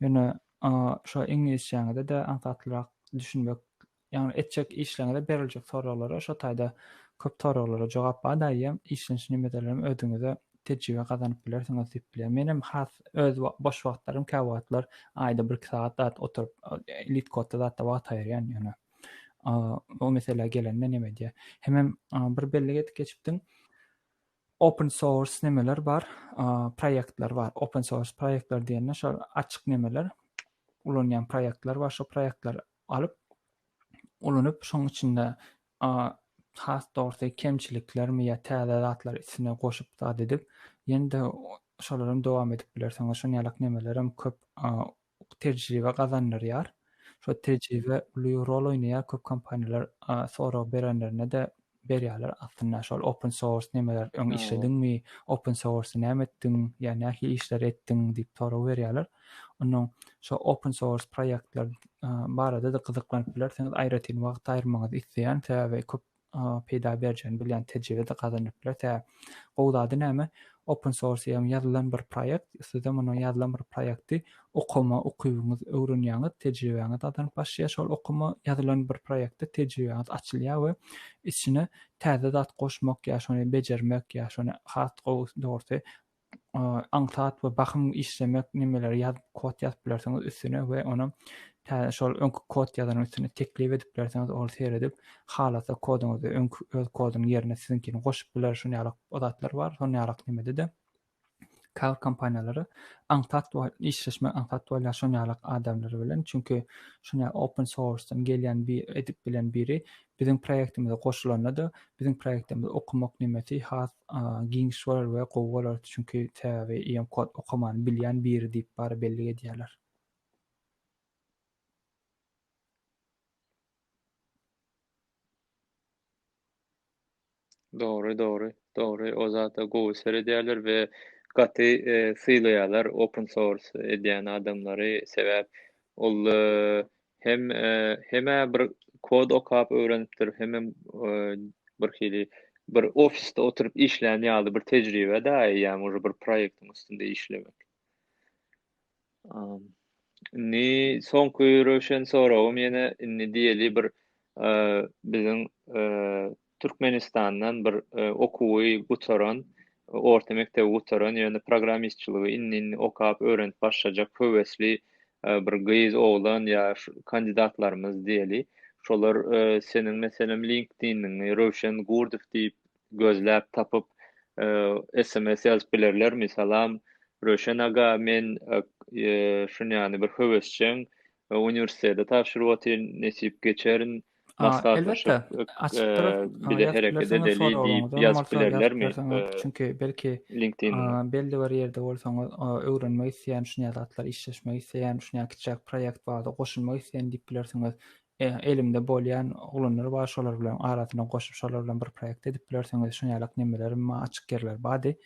S2: ýöne A şo iňlisçäňizede aňsatlyrak düşünmek ýagny etjek işleriňizde beriljek soraglara şo taýda köp soraglara jogap bar daýy hem işlenç nimedelerem özüňize tejribe gazanyp bilersiňiz diýip bilýän menem has öz boş wagtlarym käwagtlar aýda bir iki sagat zat oturyp litkodda zatda wagt aýyrýan ýöne o mesele gelende neme diýýä hemem bir bellik edip geçipdiň Open source nemeler bar? Proýektler bar. Open source proýektler diýende şol açyk nemeler, ulanýan proýektler bar. Şol proýektleri alyp, ulanyp, şoň içinde has dogrusy kemçiliklermi ýa täze zatlar üstüne goşup zat edip, ýene-de şolarym dowam edip bilersiň we şon ýalak nemelerem köp tejribe gazandyrýar. Şo tejribe uly rol oýnaýar, köp kompaniýalar sorag berenlerinde-de berýärler aslynda şol open source nemeler öň işlediňmi, open source näme etdiň, ýa nähili işleri etdiň diýip sorag berýärler. Onnoň şo open source proýektler barada-da gyzyklanyp bilersiňiz, aýratyn wagt aýyrmaňyzy isleýän, sebäbi köp peýda berjegini bilýän tejribe-de gazanylyp biler. Tä gowy zady näme, open source ýagny ýazylan bir proýekt, siz-ä muny ýazylan bir proýekti okama ukybyňyz öwrenýäňiz, tejribäňiz gazanyp başlaýar, şol okama ýazylan bir proýektde tejribäňiz açylýar we içine täze zat goşmak ýa şony bejermek ýa şony has gowy dogrusy aňsat we bahym işlemek nimeleri ýazyp kod ýazyp bilersiňiz üstüne we ony täze şol öňki kod ýazanyň üstüne teklip edip bilersiňiz ol seredip halasa koduňyzy öňki öz kodunyň ýerine siziňkini goşup biler şuny ýaly zatlar bar şuny ýaly nimede-de käbir kompaniýalary aňsat we işleşme aňsat bolýar şuny ýaly adamlar bilen çünki şuny ýaly open source-dan gelýän bir edip bilen biri biziň proýektimize goşulanda-da biziň proýektimizi okamak nimesi has giň çykarar we gowy bolar çünki sebäbi em kod okamany bilýän biri diýip bary bellik edýärler.
S1: Dogry, dogry, dogry. O zata gowy seredýärler we gaty e, sylaýarlar open source edýän adamlary. Sebäp ol e, Hem hemä bir kod okap öwrenipdir, hemem bir hili bir ofisde oturyp işlän ýaly bir tejribe da, ýa może bir proýektiň üstünde işlemek. Indi soňky röwşen soragym ýene indi diýeli bir biziň Türkmenistandan bir okuwy gutaran, orta mekdebi gutaran, ýöne programmistçiligi indi-indi okap, öwrenip başlajak höwesli bir gyz, oglan ýa kandidatlarymyz diýeli. Şolar seniň meselem LinkedIn-iňi Röwşen Gurdow diýip gözläp tapyp, sms ýazyp bilerlermi? Salam, Röwşen aga, men şunýany bir höwesjeň, uniwersitete tabşyryp otyryn, nesip geçerin, Maslahatlaşyp, bize hereket edeli diýip ýazyp bilerlermi? Çünki belki
S2: belli bir ýerde bolsaňyz, öwrenmek isleýän şunýa zatlar, işleşmek isleýän, şunýa kiçijäk proýekt bardy, goşulmak isleýän diýip bilersiňiz. Elimde bolýan oglanlar bar, şolar bilen arasyna goşup, şolar bilen bir proýekt edip bilersiňiz. Şunýalak nemeler, açyk ýerler bardy.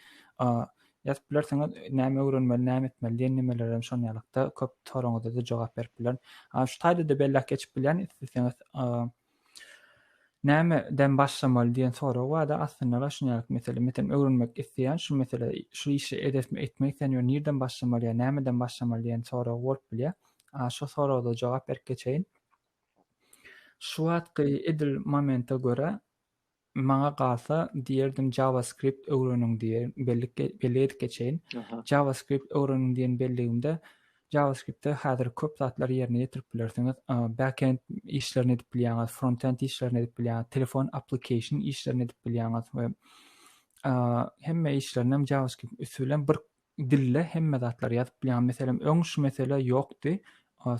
S2: Ýazyp bilersiňiz, näme öwrenmeli, näme etmeli diýen nimelerem şonuň ýalykda, köp soragyňyza-da jogap berip bilerin. A, şu taýda-da belläp geçip bilýän, isleseňiz, näme den başlamaly diýen sorag bar-da, aslynda-da şunuň ýaly mesele. Meselem, öwrenmek isleýän, şu mesele, şu işi edesmi, etmek isleýän ýöne nirden başlamaly ýa nämeden başlamaly diýen sorag bolup bilýär. A, şo soraga-da jogap berip geçeýin. Şu wagtky edil momenta görä, Maňa galsa diýerdim JavaScript öwreniň diýen bellik bellik edip geçeýin. JavaScript öwreniň diýen belligimde JavaScriptde häzir köp zatlary ýerine ýetirip bilersiňiz. Backend işlerini edip bilýäňiz, frontend işlerini edip bilýäňiz, telefon application işlerini edip bilýäňiz we hemme işlerini hem JavaScript üsti bilen bir dilde hemme zatlary ýazyp bilýän meselem öň şu mesele ýokdy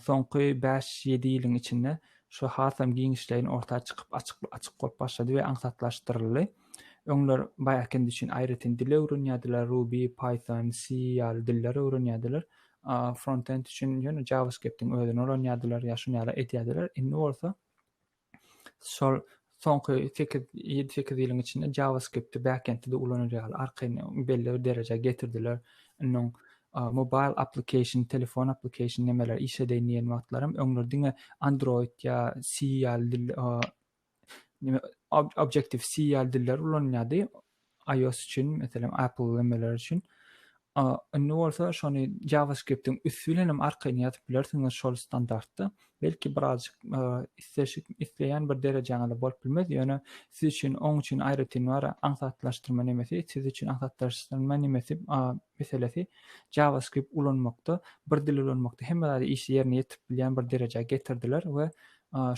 S2: soňky bäş ýedi ýylyň içinde şu hasam giňişleýin orta çykyp açyk açyk bolup başlady we aňsatlaşdyryldy öňler backend üçin aýratyn dil öwrenýärdiler ruby python c ýaly dilleri öwrenýärdiler frontend üçin ýöne javascriptiň özüni öwrenýärdiler ýa şuny ýaly edýärdiler indi bolsa şol soňky sekiz, ýedi-sekiz ýylyň içinde JavaScript-i backend-de ulanar ýaly arkaýyn belli bir derejä getirdiler. Indi mobile application, telefon application nemeler iş edeýin diýen wagtlaram öňler diňe Android ýa C ýaly dil, Objective C ýaly diller ulanylýardy. iOS üçin, meselem, Apple ölemeler üçin. Indi bolsa şony JavaScript-iň üsti bilen hem arkaýyn ýazyp bilersiňiz şol standartda. Belki birazjyk isleşik isleýän bir derejäňizde bolup bilmez, ýöne siz üçin oň üçin aýratyn bar aňsatlaşdyrma nemesi, siz üçin aňsatlaşdyrma nemesi meselesi JavaScript ulanmakda, bir dil ulanmakda hemme zady işli ýerine ýetirip bilýän bir derejä getirdiler we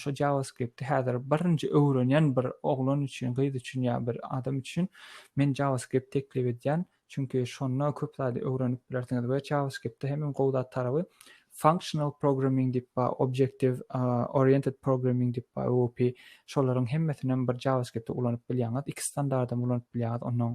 S2: şo JavaScript-i häzir birinji öwrenýän bir oglan üçin, gyz üçin ýa bir adam üçin men JavaScript teklip edýän, çünki şonda köp zady öwrenip bilersiňiz we JavaScript-de hem iň gowy zat taraby functional programming diýip bar, objective oriented programming diýip bar, OOP, şolaryň hemmesinem bir JavaScript-i ulanyp bilýäňiz, iki standardam ulanyp bilýäňiz, onnoň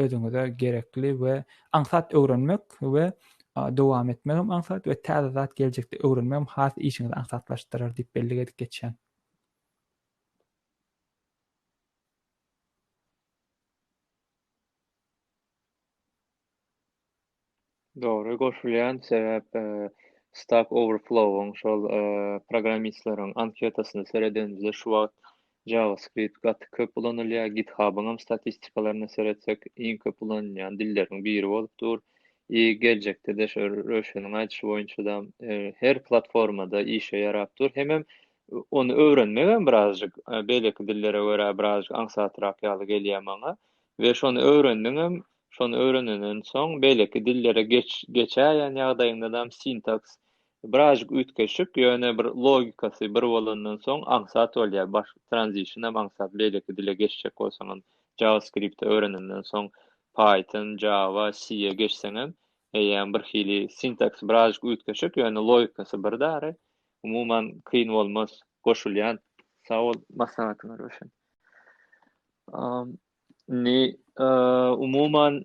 S2: özüňize gerekli we aňsat öwrenmek we dowam etmek hem aňsat we täze zat geljekde öwrenmek hem has işiňizi aňsatlaşdyrar diýip bellik edip geçýän.
S1: Dogry goşulýan sebäp Stack Overflow-yň şol programmistleriň anketasyna seredenimizde şu wagt JavaScript gaty köp ulanylýar. GitHub-yň hem statistikalaryna seretsek iň köp ulanylýan dilleriň biri bolup dur. I geljekde-de şu Röşeniň aýdyşy boýunça-da her platformada işe ýarap dur. Hemem ony öwrenmegem birazjyk beýleki dillere görä birazjyk aňsatrak ýaly gelýär maňa we şony öwrendiňem Şony öwrenenden soň beýleki dillere geçäýen ýagdaýyňdadam sintaks birazjyk üýtgeşik, ýöne bir logikasy bir bolandan soň aňsat bolýar. Baş transition hem aňsat, beýleki dile geçjek bolsaňam, JavaScript-i öwrenenden soň Python, Java, C-e geçseňem eýýäm birhili sintaks birazjyk üýtgeşik, ýöne logikasy bir dary. Umuman kyn bolmaz, goşulýan. Sag bol maslahatyňa Röşen. Indi umuman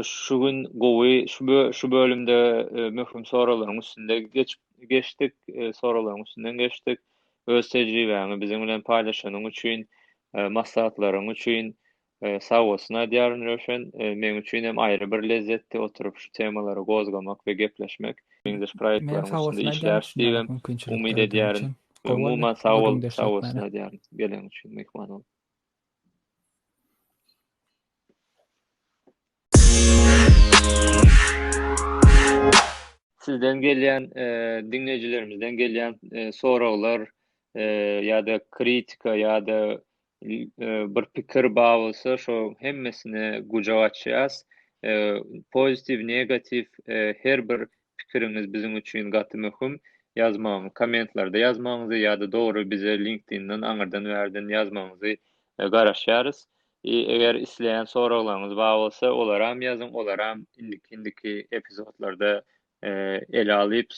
S1: şu gün gowy şu bölümde möhüm soraglaryň üstünde geçip geçdik, soraglaryň üstünden geçdik. Öz tejribäňi biziň bilen paýlaşanyň üçin, maslahatlaryň üçin sag bolsun aýdýaryn Röwşen. Meň üçin hem aýry bir lezzetdi oturyp şu temalary gozgamak we gepleşmek. Meňzeş proýektlaryň üstünde işläris diýip hem umyt edýärin. Umuman sag bol, sag bolsun aýdýaryn gelen üçin, myhman bolup. Sizden gelýän, e, diňleýjilerimizden gelýän e, soraglar e, ýa-da kritika ýa-da bir pikir bar bolsa, şo hemmesini gujaga açýas. Pozitiv, negatiw her bir pikiriňiz biziň üçin gaty möhüm ýazmagyňyz kommentlarda ýazmagyňyzy ýa-da dogry bize linkedindan aňyrdan bärden ýazmagyňyzy garaşýarys i eger isleýän soraglaryňyz bar bolsa olaram ýazyň olaram indiki indiki epizodlarda ele alyp